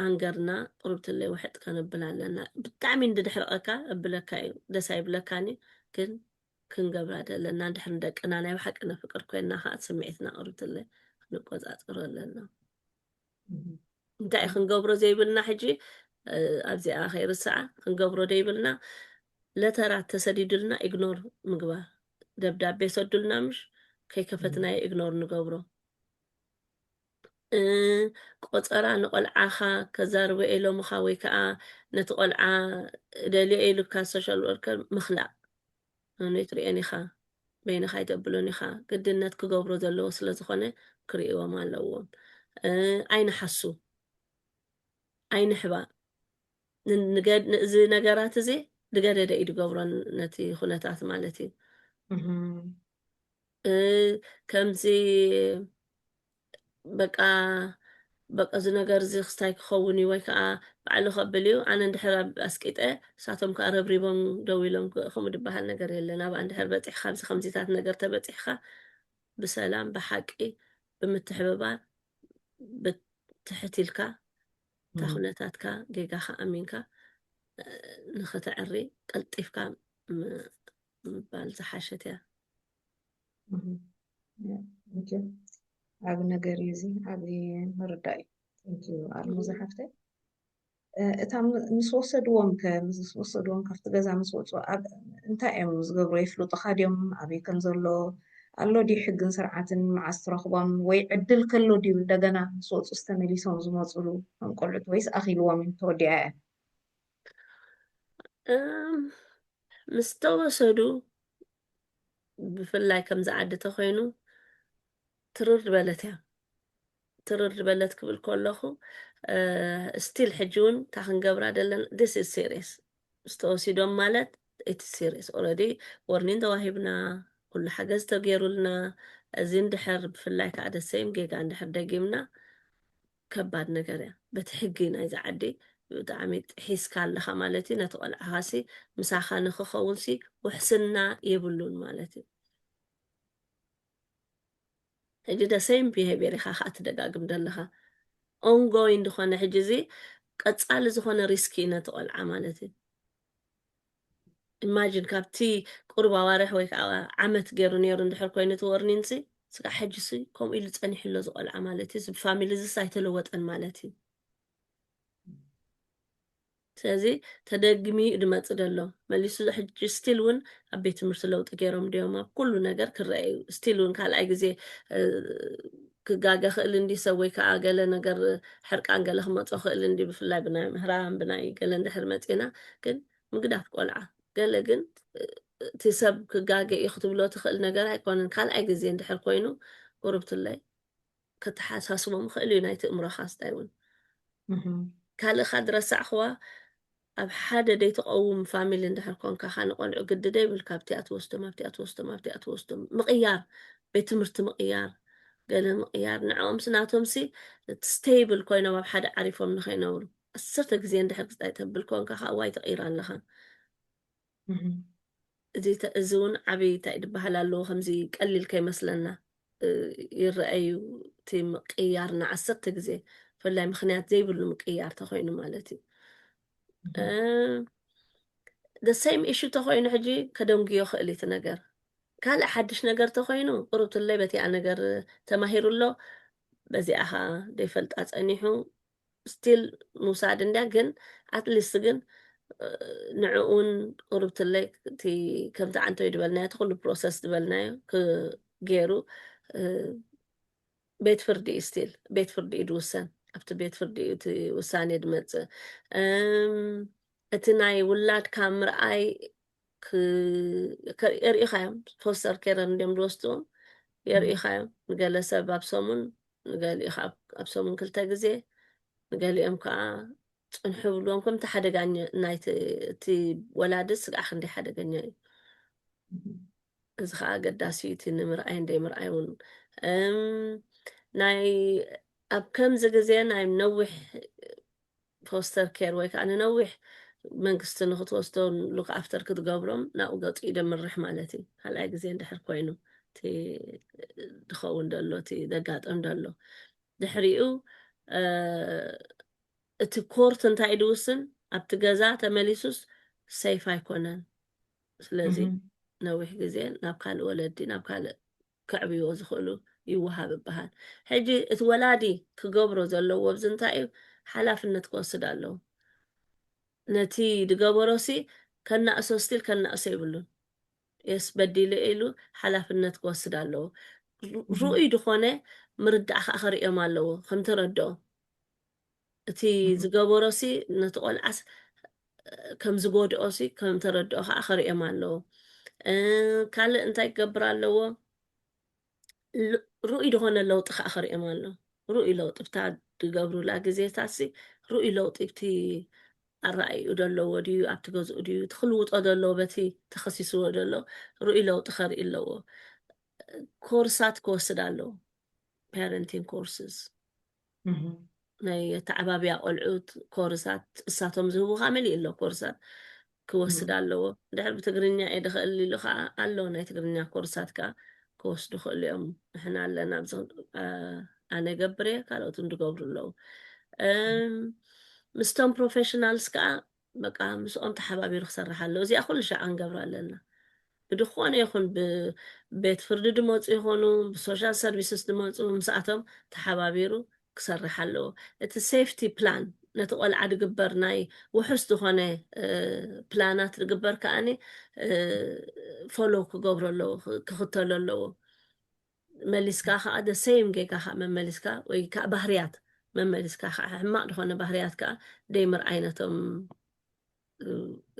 ኣንገርና ቁሩብ ትለይ ውሕጥ ከነብል ኣለና ብጣዕሚ እንድድሕርቀካ እብለካ እዩ ደስ ኣይብለካን እዩ ግን ክንገብራ ዘለና ድሕር ንደቅና ናይ ብሓቂ ነፍቅር ኮይና ከኣ ስምዒትና ቁሩብ ትለይ ክንቆጻጸሮ ኣለና እንታይ ክንገብሮ ዘይብልና ሕጂ ኣብዚኣ ከይርስዓ ክንገብሮ ዘይብልና ለተራት ተሰዲዱልና ኢግኖር ምግባር ደብዳቤ ሰዱልና ምሽ ከይከፈትናዮ ኢግኖር ንገብሮ ቆፀራ ንቆልዓኻ ከዛርበ ኤሎምኻ ወይ ከዓ ነቲ ቆልዓ ደልዮ ኢሉካ ሶሻል ወርከር ምኽላእ ኣነ ትሪኤን ኢኻ በይንኻ ይገብሉን ኢኻ ግድነት ክገብሮ ዘለዎ ስለ ዝኾነ ክርእዎም ኣለዎም ኣይንሓሱ ኣይንሕባእ እዚ ነገራት እዚ ንገደደ እዩ ድገብሮ ነቲ ኩነታት ማለት እዩ ከምዚ በቃ በቃ እዚ ነገር እዚ ክስታይ ክኸውን እዩ ወይ ከዓ ባዕሉ ከብል እዩ ኣነ እንድሕር ኣብ ኣስቂጠ እሳቶም ከዓ ረብሪቦም ደው ኢሎም ከምኡ ድበሃል ነገር የለን ኣብኣ እንድሕር በፂሕካ ኣብዚ ከምዚታት ነገር ተበፂሕካ ብሰላም ብሓቂ ብምትሕብባር ብትሕት ኢልካ እታ ኩነታትካ ጌጋኻ ኣሚንካ ንክተዕሪ ቀልጢፍካ ምባል ዝሓሸት እያ መቸም ዓብ ነገር እዩ እዚ ዓብ ምርዳእ እዩ ንኪ ኣልሙ ዝሓፍተይ እታ ምስ ወሰድዎም ከ ምስ ወሰድዎም ካብቲ ገዛ ምስ ወፁ ኣብ እንታይ እዮም ዝገብሩ የፍልጡካ ድዮም ኣበይ ከም ዘሎ ኣሎ ድዩ ሕግን ስርዓትን መዓዝ ትረኽቦም ወይ ዕድል ከሎ ድዩ እንደገና ምስ ወፁ ዝተመሊሶም ዝመፅሉ ከም ቆልዑት ወይስ ኣኺልዎም እዩ ተወዲኣ እያ ምስ ተወሰዱ ብፍላይ ከምዚ ዓዲ ተኮይኑ ትርር በለት እያ ትርር በለት ክብል ከለኹ ስቲል ሕጂ እውን እታ ክንገብራ ዘለና ዲስ ኢዝ ሲሪየስ ዝተወሲዶም ማለት እቲ ሲሪየስ ኦልሬዲ ወርኒን ተዋሂብና ኩሉ ሓገዝ ተገይሩልና እዚ እንድሕር ብፍላይ ከዓ ደሰይም ጌጋ እንድሕር ደጊምና ከባድ ነገር እያ በቲ ሕጊ ናይዛ ዓዲ ብጣዕሚ ጢሒስካ ኣለኻ ማለት እዩ ነቲ ቆልዓኻ ሲ ምሳኻ ንክኸውን ሲ ውሕስና የብሉን ማለት እዩ ሕጂ ደ ሰይም ቢሄቪየር ኢኻ ከዓ ትደጋግም ዘለኻ ኦንጎይን ዝኾነ ሕጂ እዚ ቀጻሊ ዝኾነ ሪስኪ እዩ ነቲ ቆልዓ ማለት እዩ ኢማጂን ካብቲ ቁሩብ ኣዋርሕ ወይ ከዓ ዓመት ገይሩ ነይሩ እንድሕር ኮይኑ እቲ ወርኒን ሲ ስጋዕ ሕጂ ሲ ከምኡ ኢሉ ጸኒሑ ኣሎ ዝቆልዓ ማለት እዩ ፋሚሊ ዝስ ኣይተለወጠን ማለት እዩ ስለዚ ተደግሚ እዩ ድመፅ ደሎ መሊሱ ሕጂ ስቲል እውን ኣብ ቤት ትምህርቲ ለውጢ ገይሮም ድዮም ኣብ ኩሉ ነገር ክረአዩ ስቲል እውን ካልኣይ ግዜ ክጋገ ክእል እንዲ ሰብ ወይ ከኣ ገለ ነገር ሕርቃን ገለ ክመጾ ክእል እንዲ ብፍላይ ብናይ ምህራም ብናይ ገለ እንድሕር መጺና ግን ምግዳፍ ቆልዓ ገለ ግን እቲ ሰብ ክጋገ እዩ ክትብሎ ትክእል ነገር ኣይኮነን ካልኣይ ግዜ እንድሕር ኮይኑ ቁርብትለይ ከተሓሳስቦም ክእል እዩ ናይቲ እምሮካ ስታይ እውን ካልእካ ድረሳዕክዋ ኣብ ሓደ ደይትቐውም ፋሚሊ እንድሕር ኮንካ ከኣ ንቆልዑ ግዲ ደይብልካ ኣብቲኣ ትወስዶም ኣብቲኣ ትወስዶም ኣብቲኣ ትወስዶም ምቕያር ቤት ትምህርቲ ምቕያር ገለ ምቕያር ንዕኦምሲ ናቶምሲ ስተይብል ኮይኖም ኣብ ሓደ ዓሪፎም ንኸይነብሩ ዓሰርተ ግዜ እንድሕር ክስታይ ተብል ኮንካ ከኣ ዋይ ተቕይራ ኣለኻ እዚ ውን ዓብይ እንታይ ድበሃል ኣለዎ ከምዚ ቀሊል ከይመስለና ይረኣ እዩ እቲ ምቅያር ንዓሰርተ ግዜ ብፍላይ ምክንያት ዘይብሉ ምቅያር ተኮይኑ ማለት እዩ the same issue ተኮይኑ ሕጂ ከደንጉዮ ክእል እቲ ነገር ካልእ ሓድሽ ነገር ተኮይኑ ቅሩብ ትለይ በቲኣ ነገር ተማሂሩ ኣሎ በዚኣ ኸዓ ዘይፈልጣ ፀኒሑ ስቲል ምውሳድ እንድያ ግን ኣትሊስት ግን ንዕኡ እውን ቁርብትለይ እቲ ከምቲ ዓንተይ ዝበልናዮ እቲ ኩሉ ፕሮሰስ ዝበልናዮ ገይሩ ቤት ፍርዲ እዩ ስቲል ቤት ፍርዲ እዩ ዝውሰን ኣብቲ ቤት ፍርዲ እዩ እቲ ውሳኔ ዝመፅእ እቲ ናይ ውላድካ ምርኣይ የርእኻዮም ፖስተር ኬረን እንዲም ዝወስድዎም የርእኻዮም ንገለ ሰብ ኣብ ሰሙን ንገሊኡ ከዓ ኣብ ሰሙን ክልተ ግዜ ንገሊኦም ከዓ ፅንሑ ብልዎም ከምቲ ሓደጋ ናይቲ እቲ ወላዲ ስግዓ ክንደይ ሓደገኛ እዩ እዚ ከዓ ኣገዳሲ እዩ እቲ ንምርኣይ እንደ ምርኣይ እውን ናይ ኣብ ከምዚ ግዜ ናይ ነዊሕ ፎስተር ኬር ወይ ከኣ ንነዊሕ መንግስቲ ንክትወስዶ ሉክ ኣፍተር ክትገብሮም ናብኡ ገጹ ደምርሕ ማለት እዩ ካልኣይ ግዜ እንድሕር ኮይኑ እቲ ዝኸውን ደሎ እቲ ዘጋጠም ደሎ ድሕሪኡ እቲ ኮርት እንታይ ድውስን ኣብቲ ገዛ ተመሊሱስ ሰይፍ ኣይኮነን ስለዚ ነዊሕ ግዜ ናብ ካልእ ወለዲ ናብ ካልእ ከዕብይዎ ዝኽእሉ ይወሃብ ይበሃል። ሕጂ እቲ ወላዲ ክገብሮ ዘለዎ ኣብዚ እንታይ እዩ ሓላፍነት ክወስድ ኣለዎ። ነቲ ዝገበሮሲ ከናእሶ ስቲል ከናእሶ የብሉን። የስ በዲለ ኢሉ ሓላፍነት ክወስድ ኣለዎ። ርኡይ ዝኾነ ምርዳእ ከዓ ከርእዮም ኣለዎ ከምተረድኦም። እቲ ዝገበሮሲ ነቲ ቆልዓስ ከም ዝጎድኦሲ ከም ተረድኦ ከዓ ከርእዮም ኣለዎ ካልእ እንታይ ክገብር ኣለዎ ርኡይ ዝኾነ ለውጢ ከዓ ከርእዮም ኣሎ ርኡይ ለውጢ ብታ ዝገብሩላ ግዜታሲ ርኡይ ለውጢ ብቲ ኣረኣይኡ ዘለዎ ድዩ ኣብቲ ገዝኡ ድዩ ትክልውጦ ዘለዎ በቲ ተኸሲስዎ ዘሎ ርኡይ ለውጢ ከርኢ ኣለዎ ኮርሳት ክወስድ ኣለዎ ፓረንቲንግ ኮርስስ ናይ ኣተዓባብያ ቆልዑት ኮርሳት እሳቶም ዝህቡ ከዓ መሊኡ ኣሎ ኮርሳት ክወስድ ኣለዎ ድሕር ብትግርኛ እየ ድኽእል ኢሉ ከዓ ኣሎ ናይ ትግርኛ ኮርሳት ከዓ ክወስዱ ክእሉ እዮም ንሕና ኣለና ኣብዚ ኣነ ገብር እየ ካልኦት እንድገብሩ ኣለዉ ምስቶም ፕሮፌሽናልስ ከዓ በቃ ምስኦም ተሓባቢሩ ክሰርሕ ኣለዎ እዚኣ ኩሉ ሻዕ ክንገብራ ኣለና ብድኾነ ይኹን ብቤት ፍርዲ ድመፁ ይኾኑ ብሶሻል ሰርቪስስ ድመፁ ምስኣቶም ተሓባቢሩ ክሰርሕ ኣለዎ እቲ ሴፍቲ ፕላን ነቲ ቆልዓ ድግበር ናይ ውሑስ ዝኾነ ፕላናት ድግበር ከዓኒ ፎሎ ክገብሮ ኣለዎ ክኽተሎ ኣለዎ መሊስካ ከኣ the same ጌጋ ከኣ መመሊስካ ወይ ከኣ ባህርያት መመሊስካ ከኣ ሕማቅ ድኮነ ባህርያት ከኣ ደይምርኣይ ነቶም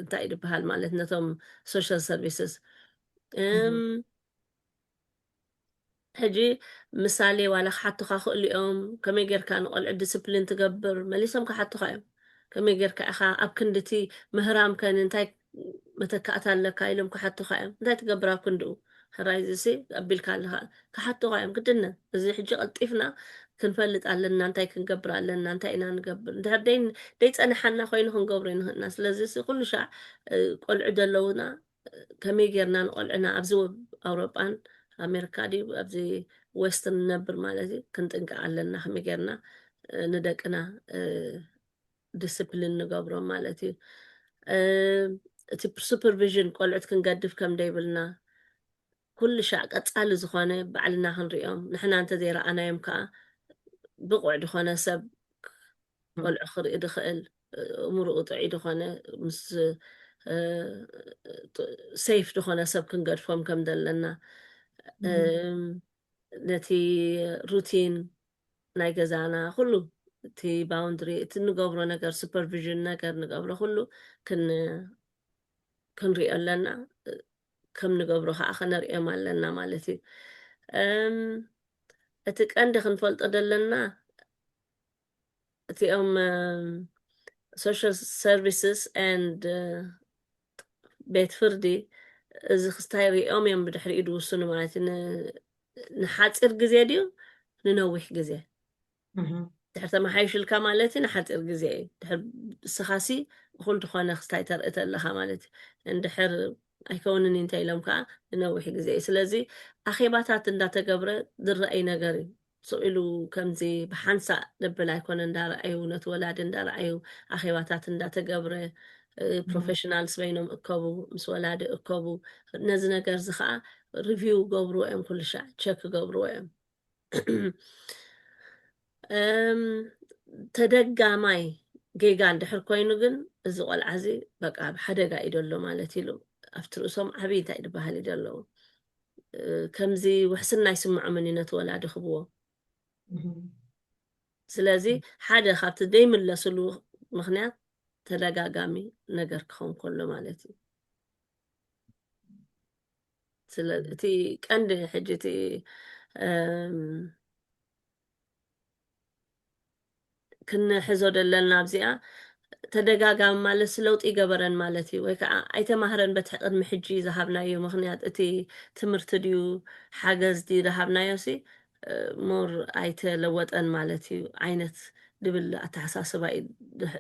እንታይ እዩ ድበሃል ማለት ነቶም ሶሻል ሰርቪስስ ሕጂ ምሳሌ ዋላ ክሓቱካ ክእሉ እዮም ከመይ ጌርካ ንቆልዑ ዲስፕሊን ትገብር መሊሶም ክሓቱካ እዮም ከመይ ጌርካ ኢካ ኣብ ክንዲ እቲ ምህራም ከን እንታይ መተካእታ ኣለካ ኢሎም ክሓቱኻ እዮም እንታይ ትገብር ኣብ ክንድኡ ሕራይ እዚሲ ኣቢልካ ኣለኻ ክሓቱኻ እዮም ግድነ እዚ ሕጂ ቀልጢፍና ክንፈልጥ ኣለና እንታይ ክንገብር ኣለና እንታይ ኢና ንገብር እንድሕር ደይ ደይፀናሓና ኮይኑ ክንገብሮ ይንኽእልና ስለዚ ሲ ኩሉ ሻዕ ቆልዑ ዘለውና ከመይ ጌርና ንቆልዕና ኣብዚ ኣውሮጳን ኣሜሪካ ድዩ ኣብዚ ዌስት ንነብር ማለት እዩ ክንጥንቀቕ ኣለና ከመይ ጌርና ንደቅና ዲስፕሊን ንገብሮም ማለት እዩ እቲ ሱፐርቪዥን ቆልዑት ክንገድፍ ከም ደይብልና ኩሉ ሻዕ ቀጻሊ ዝኾነ ባዕልና ክንሪኦም ንሕና እንተዘይረኣናዮም ከዓ ብቑዕ ዝኾነ ሰብ ቆልዑ ክርኢ ድኽእል እምርኡ ጥዑይ ዝኾነ ምስ ሰይፍ ዝኾነ ሰብ ክንገድፎም ከም ዘለና ነቲ ሩቲን ናይ ገዛና ኩሉ እቲ ባውንድሪ እቲ ንገብሮ ነገር ሱፐርቪዥን ነገር ንገብሮ ኩሉ ክንሪኦ ኣለና ከም ንገብሮ ከዓ ከነርእዮም ኣለና ማለት እዩ እቲ ቀንዲ ክንፈልጦ ዘለና እቲኦም ሶሻል ሰርቪስስ ን ቤት ፍርዲ እዚ ክስታይ ሪኦም እዮም ብድሕሪኡ ዝውስኑ ማለት እዩ ን- ንሓፂር ግዜ ድዩ ንነዊሕ ግዜ እህ። ድሕር ተመሓይሽልካ ማለት እዩ ንሓፂር ግዜ እዩ ድሕር ንስኻሲ እኹል ዝኾነ ክስታይ ተርኢ ተለኻ ማለት እዩ እንድሕር ኣይከውንን እዩ እንተኢሎም ከዓ ንነዊሕ ግዜ እዩ ስለዚ ኣኼባታት እንዳተገብረ ዝረኣይ ነገር እዩ ስቕ ኢሉ ከምዚ ብሓንሳእ ዘብል ኣይኮነን፣ እንዳረኣዩ ነቲ ወላዲ እንዳረኣዩ ኣኼባታት እንዳተገብረ፣ ፕሮፌሽናልስ በይኖም እከቡ፣ ምስ ወላዲ እከቡ፣ ነዚ ነገርዚ ከኣ ሪቪው ክገብርዎ እዮም፣ ኩሉ ሻዕ ቸክ ክገብርዎ እዮም። ተደጋማይ ጌጋ እንድሕር ኮይኑ ግን እዚ ቆልዓዚ በቃ ኣብ ሓደጋ እዩ ዘሎ ማለት ኢሉ ኣብቲ ርእሶም ዓብይ እንታይ ድበሃል እዩ ዘለዉ ከምዚ ውሕስና ኣይስምዖምን እዩ ነቲ ወላዲ ክብዎ ስለዚ ሓደ ካብቲ ዘይምለስሉ ምክንያት ተደጋጋሚ ነገር ክኸውን ከሎ ማለት እዩ እቲ ቀንዲ ሕጂ እቲ ክንሕዞ ደለና ኣብዚኣ ተደጋጋሚ ማለትስ ለውጢ ይገበረን ማለት እዩ ወይ ከዓ ኣይተማህረን በቲ ቅድሚ ሕጂ ዝሃብናዮ ምክንያት እቲ ትምህርቲ ድዩ ሓገዝ ድዩ ዝሃብናዮ ሲ ሞር ኣይተለወጠን ማለት እዩ ዓይነት ድብል ኣተሓሳስባ እዩ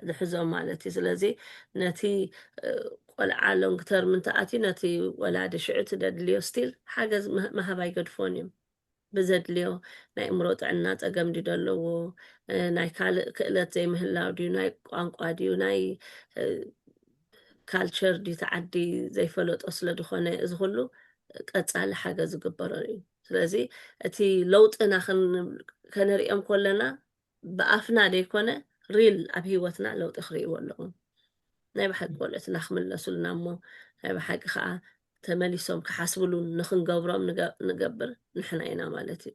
ዝሕዞ ማለት እዩ ስለዚ ነቲ ቆልዓ ሎንግ ተርም እንተኣትዩ ነቲ ወላዲ ሽዑ እቲ ደድልዮ ስቲል ሓገዝ ምሃብ ኣይገድፎን እዮም ብዘድልዮ ናይ እምሮ ጥዕና ፀገም ድዩ ዘለዎ ናይ ካልእ ክእለት ዘይምህላው ድዩ ናይ ቋንቋ ድዩ ናይ ካልቸር ድዩ ተዓዲ ዘይፈለጦ ስለ ዝኾነ እዚ ኩሉ ቀፃሊ ሓገዝ ዝግበሮ እዩ ስለዚ እቲ ለውጥና ከነሪኦም ኮለና ብኣፍና ደይኮነ ሪል ኣብ ሂወትና ለውጢ ክርእይዎ ኣለዎም ናይ ብሓቂ ወልኦትና ክምለሱልና እሞ ናይ ብሓቂ ከኣ ተመሊሶም ክሓስብሉ ንክንገብሮም ንገብር ንሕና ኢና ማለት እዩ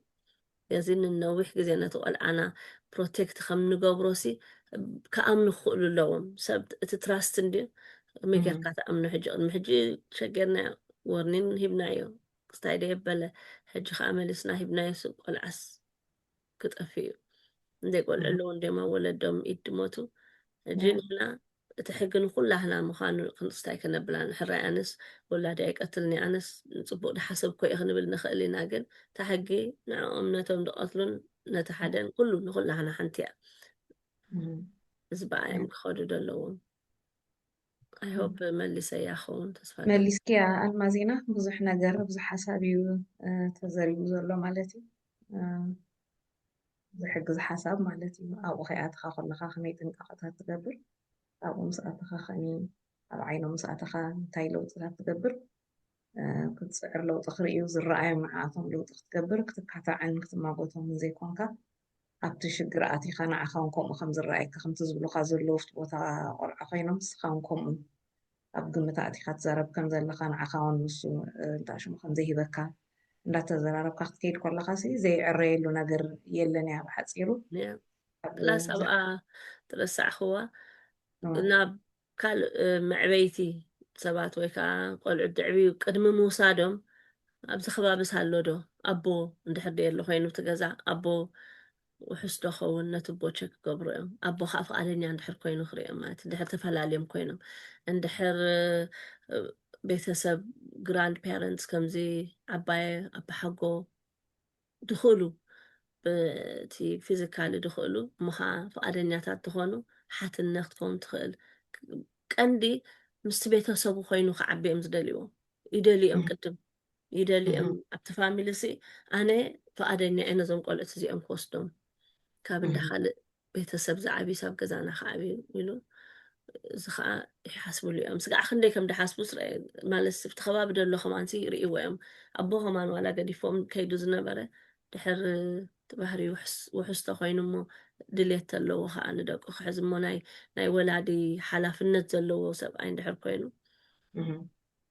እዚ ንነዊሕ ግዜ ነቲ ቆልዓና ፕሮቴክት ከም ንገብሮ ሲ ክኣምኑ ክኽእሉ ኣለዎም ሰብ እቲ ትራስት እንድዩ ከመይ ጌርካ ትኣምኖ ሕጂ ቅድሚ ሕጂ ሸጌርና ወርኒን ሂብናዮ ክስታይ ደየበለ ሕጂ ከዓ መሊስና ሂብናዮ ስብ ቆልዓስ ክጠፍእ እዩ እንደ ቆልዑ ኣለዉ እንዲም ኣብ ወለዶም ኢድ ድሞቱ እጂ ንሕና እቲ ሕጊ ንኩላህና ምዃኑ ክንስታይ ከነብላ ንሕራይ ኣነስ ወላዲ ኣይቀትልኒ ኣነስ ንፅቡቅ ድሓሰብኮ እየ ክንብል ንኽእል ኢና ግን እታ ሕጊ ንዕኦም ነቶም ድቐትሉን ነቲ ሓደን ኩሉ ንኩላህና ሓንቲ እያ እዚ በኣዮም ክኸዱ ዘለዎም ኣይ ሆፕ መሊሰያ ክኸውን ተስፋ ኣለኒ። መሊስክያ ኣልማዜና ብዙሕ ነገር ብዙሕ ሓሳብ እዩ ተዘሪቡ ዘሎ ማለት እዩ ዝሕግዝ ሓሳብ ማለት እዩ ኣብኡ ከይኣተኻ ከለኻ ከመይ ጥንቃቐታት ትገብር ኣብኡ ምስ ኣተኻ ከኒ ኣብ ዓይኖም ምስ ኣተኻ እንታይ ለውጥታት ትገብር ክትጽዕር ለውጢ ክርእዩ ዝረኣዮም ንዓኣቶም ለውጢ ክትገብር ክትካታዕን ክትማጎቶምን ዘይኮንካ ኣብቲ ሽግር ኣቲኻ ንዓኻ ውን ከምኡ ከም ዝረኣየካ ከምቲ ዝብሉኻ ዘለዉ ኣብቲ ቦታ ቆልዓ ኮይኖም ንስኻ ውን ከምኡ ኣብ ግምት ኣእቲኻ ትዛረብ ከም ዘለኻ ንዓኻ ውን ንሱ እንታይ ሽሙ ከም ዘይሂበካ እንዳተዘራረብካ ክትከይድ ኮለኻ ሲ ዘይዕረየሉ ነገር የለን እያ ብሓጺሩ ፕላስ ኣብኣ ተበሳዕኽዋ ናብ ካልእ መዕበይቲ ሰባት ወይ ከኣ ቆልዑት ደዕብዩ ቅድሚ ምውሳዶም ኣብዚ ከባቢስ ኣሎ ዶ ኣቦ እንድሕር ደይ ኣሎ ኮይኑ እቲ ገዛ ኣቦ ውሑስ ዶ ኸውን ነቲ ኣቦ ቸክ ክገብሩ እዮም ኣቦ ከዓ ፍቃደኛ እንድሕር ኮይኑ ክርእዮም ማለት እንድሕር ተፈላለዮም ኮይኖም እንድሕር ቤተሰብ ግራንድ ፓረንትስ ከምዚ ዓባየ ኣባሓጎ ድኽእሉ ብቲ ፊዚካሊ ድኽእሉ እሞ ኸዓ ፍቓደኛታት ትኾኑ ሓትነ ክትከውን ትኽእል ቀንዲ ምስቲ ቤተሰቡ ኮይኑ ክዓቢ እዮም ዝደልይዎ ይደልዩ እዮም ቅድም ይደልዩ እዮም ኣብቲ ፋሚሊ ሲ ኣነ ፍቓደኛ እየ ነዞም ቆልዑት እዚኦም ክወስዶም ካብ እንዳ ካልእ ቤተሰብ ዝዓብዩስ ኣብ ገዛና ክዓብዩ ኢሉ እዚ ከዓ ይሓስብሉ እዮም ስጋዕ ክንደይ ከም ድሓስቡ ማለት ስብቲ ከባቢ ደሎ ከማንሲ ይርእዎ እዮም ኣቦ ከማን ዋላ ገዲፎም ከይዱ ዝነበረ ድሕር ትባህሪ ውሑስ ተኮይኑ እሞ ድሌት ተለዎ ከዓ ንደቁ ክሕዝ እሞ ናይ ወላዲ ሓላፍነት ዘለዎ ሰብኣይ እንድሕር ኮይኑ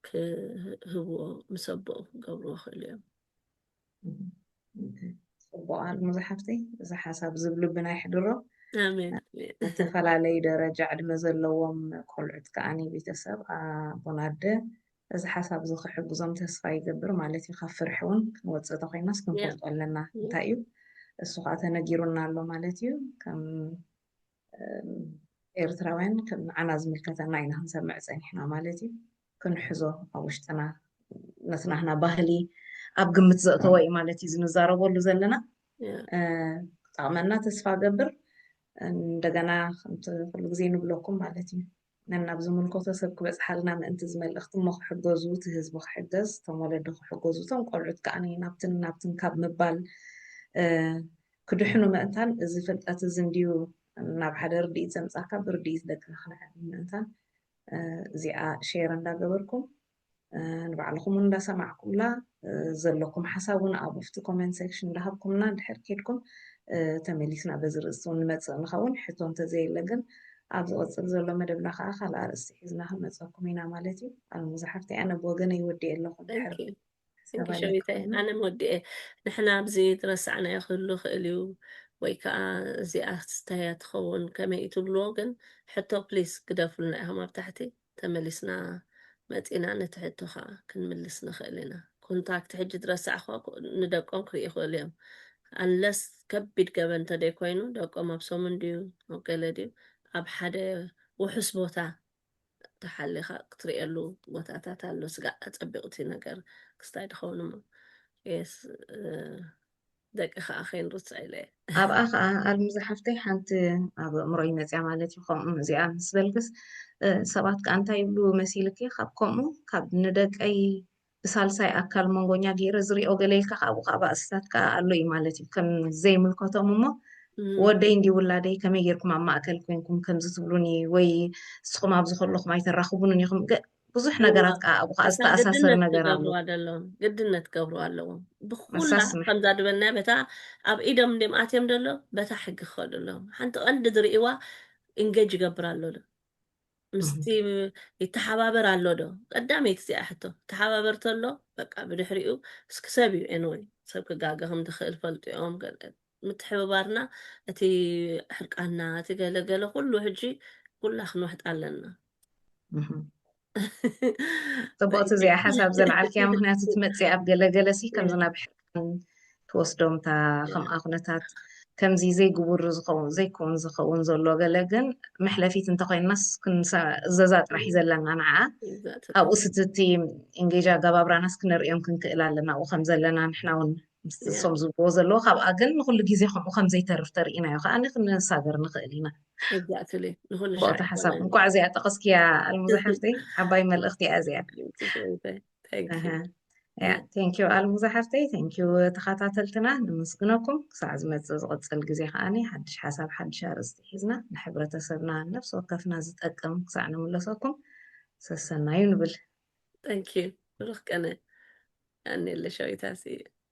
ክህብዎ ምስ ኣቦኡ ክገብርዎ ክእሉ እዮም ፅቡቅ ኣልሙ ዝሓፍተይ እዚ ሓሳብ ዝብልብና ይሕድሮ ዝተፈላለዩ ደረጃ ዕድመ ዘለዎም ቆልዑት ከዓኒ ቤተሰብ ኣቦን ኣደ እዚ ሓሳብ እዚ ክሕግዞም ተስፋ ይገብር ማለት እዩ ካብ ፍርሒ እውን ክንወፅእ ተኮይናስ ክንፈልጦ ኣለና እንታይ እዩ እሱ ከዓ ተነጊሩና ኣሎ ማለት እዩ ከም ኤርትራውያን ከም ንዓና ዝምልከተና ኢና ክንሰምዕ ጸኒሕና ማለት እዩ ክንሕዞ ኣብ ውሽጥና ነቲ ናህና ባህሊ ኣብ ግምት ዘእተወ እዩ ማለት እዩ ዝንዛረበሉ ዘለና ክጠቕመና ተስፋ ገብር እንደገና ከምቲ ኩሉ ግዜ ንብለኩም ማለት እዩ ነናብ ዝምልከቶ ሰብ ክበጽሓልና ምእንቲ እዚ መልእኽቲ እሞ ክሕገዙ እቲ ህዝቢ ክሕገዝ እቶም ወለዲ ክሕገዙ እቶም ቆልዑት ከኣ ናብትን ናብትን ካብ ምባል ክድሕኑ ምእንታን እዚ ፍልጠት እዚ እንድዩ ናብ ሓደ ርድኢት ዘምጻካ ብርድኢት ደቅና ክነዕብን ምእንታን እዚኣ ሼር እንዳገበርኩም ንባዕልኹም ውን እንዳሰማዕኩምላ ዘለኩም ሓሳብ ውን ኣብ ውሽጢ ኮሜንት ሴክሽን እንዳሃብኩምና ድሕር ኬድኩም ተመሊስና በዚ ርእስቲ ውን ንመጽእ ንኸውን ሕቶ እንተዘየለ ግን ኣብ ዝቕጽል ዘሎ መደብና ከዓ ካልኣ ርእስቲ ሒዝና ክንመጸኩም ኢና ማለት እዩ ኣልሙዛ ሓፍቲ ኣነ ብወገነይ ወዲኤ ኣለኹ ድሕር ስንኪ ሸዊተ ኣነ መወዲኤ ንሕና ኣብዚ ዝረሳዕናዮ ክህሉ ክእል እዩ ወይ ከዓ እዚኣ ስታያ ትኸውን ከመይ ትብልዎ ግን ሕቶ ፕሊስ ግደፉልና ኢኹም ኣብ ታሕቲ ተመሊስና መጺና ነቲ ሕቶኻ ክንምልስ ንኽእል ኢና። ኮንታክት ሕጂ ድረሳዕ እኳ ንደቆም ክርኢ ይኽእሉ እዮም ኣንለስ ከቢድ ገበን እንተደይ ኮይኑ ደቆም ኣብ ሰሙን ድዩ ኣብ ገለ ድዩ ኣብ ሓደ ውሑስ ቦታ ተሓሊኻ ክትርእየሉ ቦታታት ኣሎ ስጋዕ ኣጸቢቕቲ ነገር ክስታይ ድኸውን እሞ ደቂ ከዓ ከይንርፅዕ ኢለ ኣብኣ ከዓ ኣልሚ ዝሓፍተይ ሓንቲ ኣብ ኣእምሮይ መፅያ ማለት እዩ ከምኡ እዚኣ ምስ በልክስ ሰባት ከዓ እንታይ ይብሉ መሲልኪ ካብ ከምኡ ካብ ንደቀይ ብሳልሳይ ኣካል መንጎኛ ገይረ ዝሪኦ ገሌልካ ካብኡ ከዓ ባእስታት ከዓ ኣሎ እዩ ማለት እዩ ከም ዘይምልከቶም እሞ ወደይ እንዲ ውላደይ ከመይ ጌርኩም ኣብ ማእከል ኮንኩም ከምዚ ትብሉኒ ወይ ንስኹም ኣብዚ ከለኹም ኣይተራኽቡንን ኢኹም ብዙሕ ነገራት ከዓ ኣብኡ ከዓ ዝተኣሳሰር ነገር ኣሎ ግድነት ክገብሩ ኣለዎም ግድነት ክገብሩ ኣለዎም ብኩላ መሳስ መ- ከምዛ ድበልናያ በታ ኣብ ኢዶም እንዲም ኣትዮም ደሎ በታ ሕጊ ክኸዱ ኣለዎም ሓንቲ ቀንዲ ዝርእይዋ ኢንጌጅ ይገብር ኣሎ ዶ ምስቲ ይተሓባበር ኣሎ ዶ ቀዳመይቲ እዚኣ ሕቶ ተሓባበር ተሎ በቃ ብድሕሪኡ እስኪ ሰብ እዩ ኤንወይ ሰብ ክጋገ ከም ዝኽእል ፈልጡ እዮም ገለ ምትሕብባርና እቲ ሕርቃና እቲ ገለ ገለ ኩሉ ሕጂ ኩላ ክንውሕጣ ኣለና ፅቡቕቲ እዚኣ ሓሳብ ዘልዓልክያ ምክንያቱ ትመፅእ ኣብ ገለገለ ሲ ከምዚ ናብ ሕርቃን ትወስዶምታ ከምኣ ኩነታት ከምዚ ዘይግቡር ዝኸውን ዘይከውን ዝኸውን ዘሎ ገለ ግን መሕለፊት እንተኮይናስ እዘዛ ጥራሕ እዩ ዘለና ንዓ ኣብኡ ስትቲ እንጌጃ ኣጋባብራናስ ክንርእዮም ክንክእል ኣለና ኣብኡ ከም ዘለና ንሕና እውን ምስቲ ንሶም ዝብልዎ ዘለዎ ካብኣ ግን ንኩሉ ግዜ ከምኡ ከምዘይተርፍ ተርእናዮ ከዓ ክንሳገር ንኽእል ኢና ንኩሉሻ ሓሳብ እንኳዕ እዚኣ ጠቐስክያ ኣልሙዛ ሓፍተይ ዓባይ መልእኽቲ እያ እዚኣ ቴንኪዩ ኣልሙዛ ሓፍተይ ቴንኪዩ ተኸታተልትና ንምስግነኩም ክሳዕ ዝመፅእ ዝቕፅል ግዜ ከዓኒ ሓድሽ ሓሳብ ሓድሽ ኣርእስቲ ሒዝና ንሕብረተሰብና ነፍሲ ወከፍና ዝጠቅም ክሳዕ ንምለሰኩም ሰሰናዩ ንብል ቴንኪዩ ብሩክ ቀነ ኣኔለ ሸዊታሲ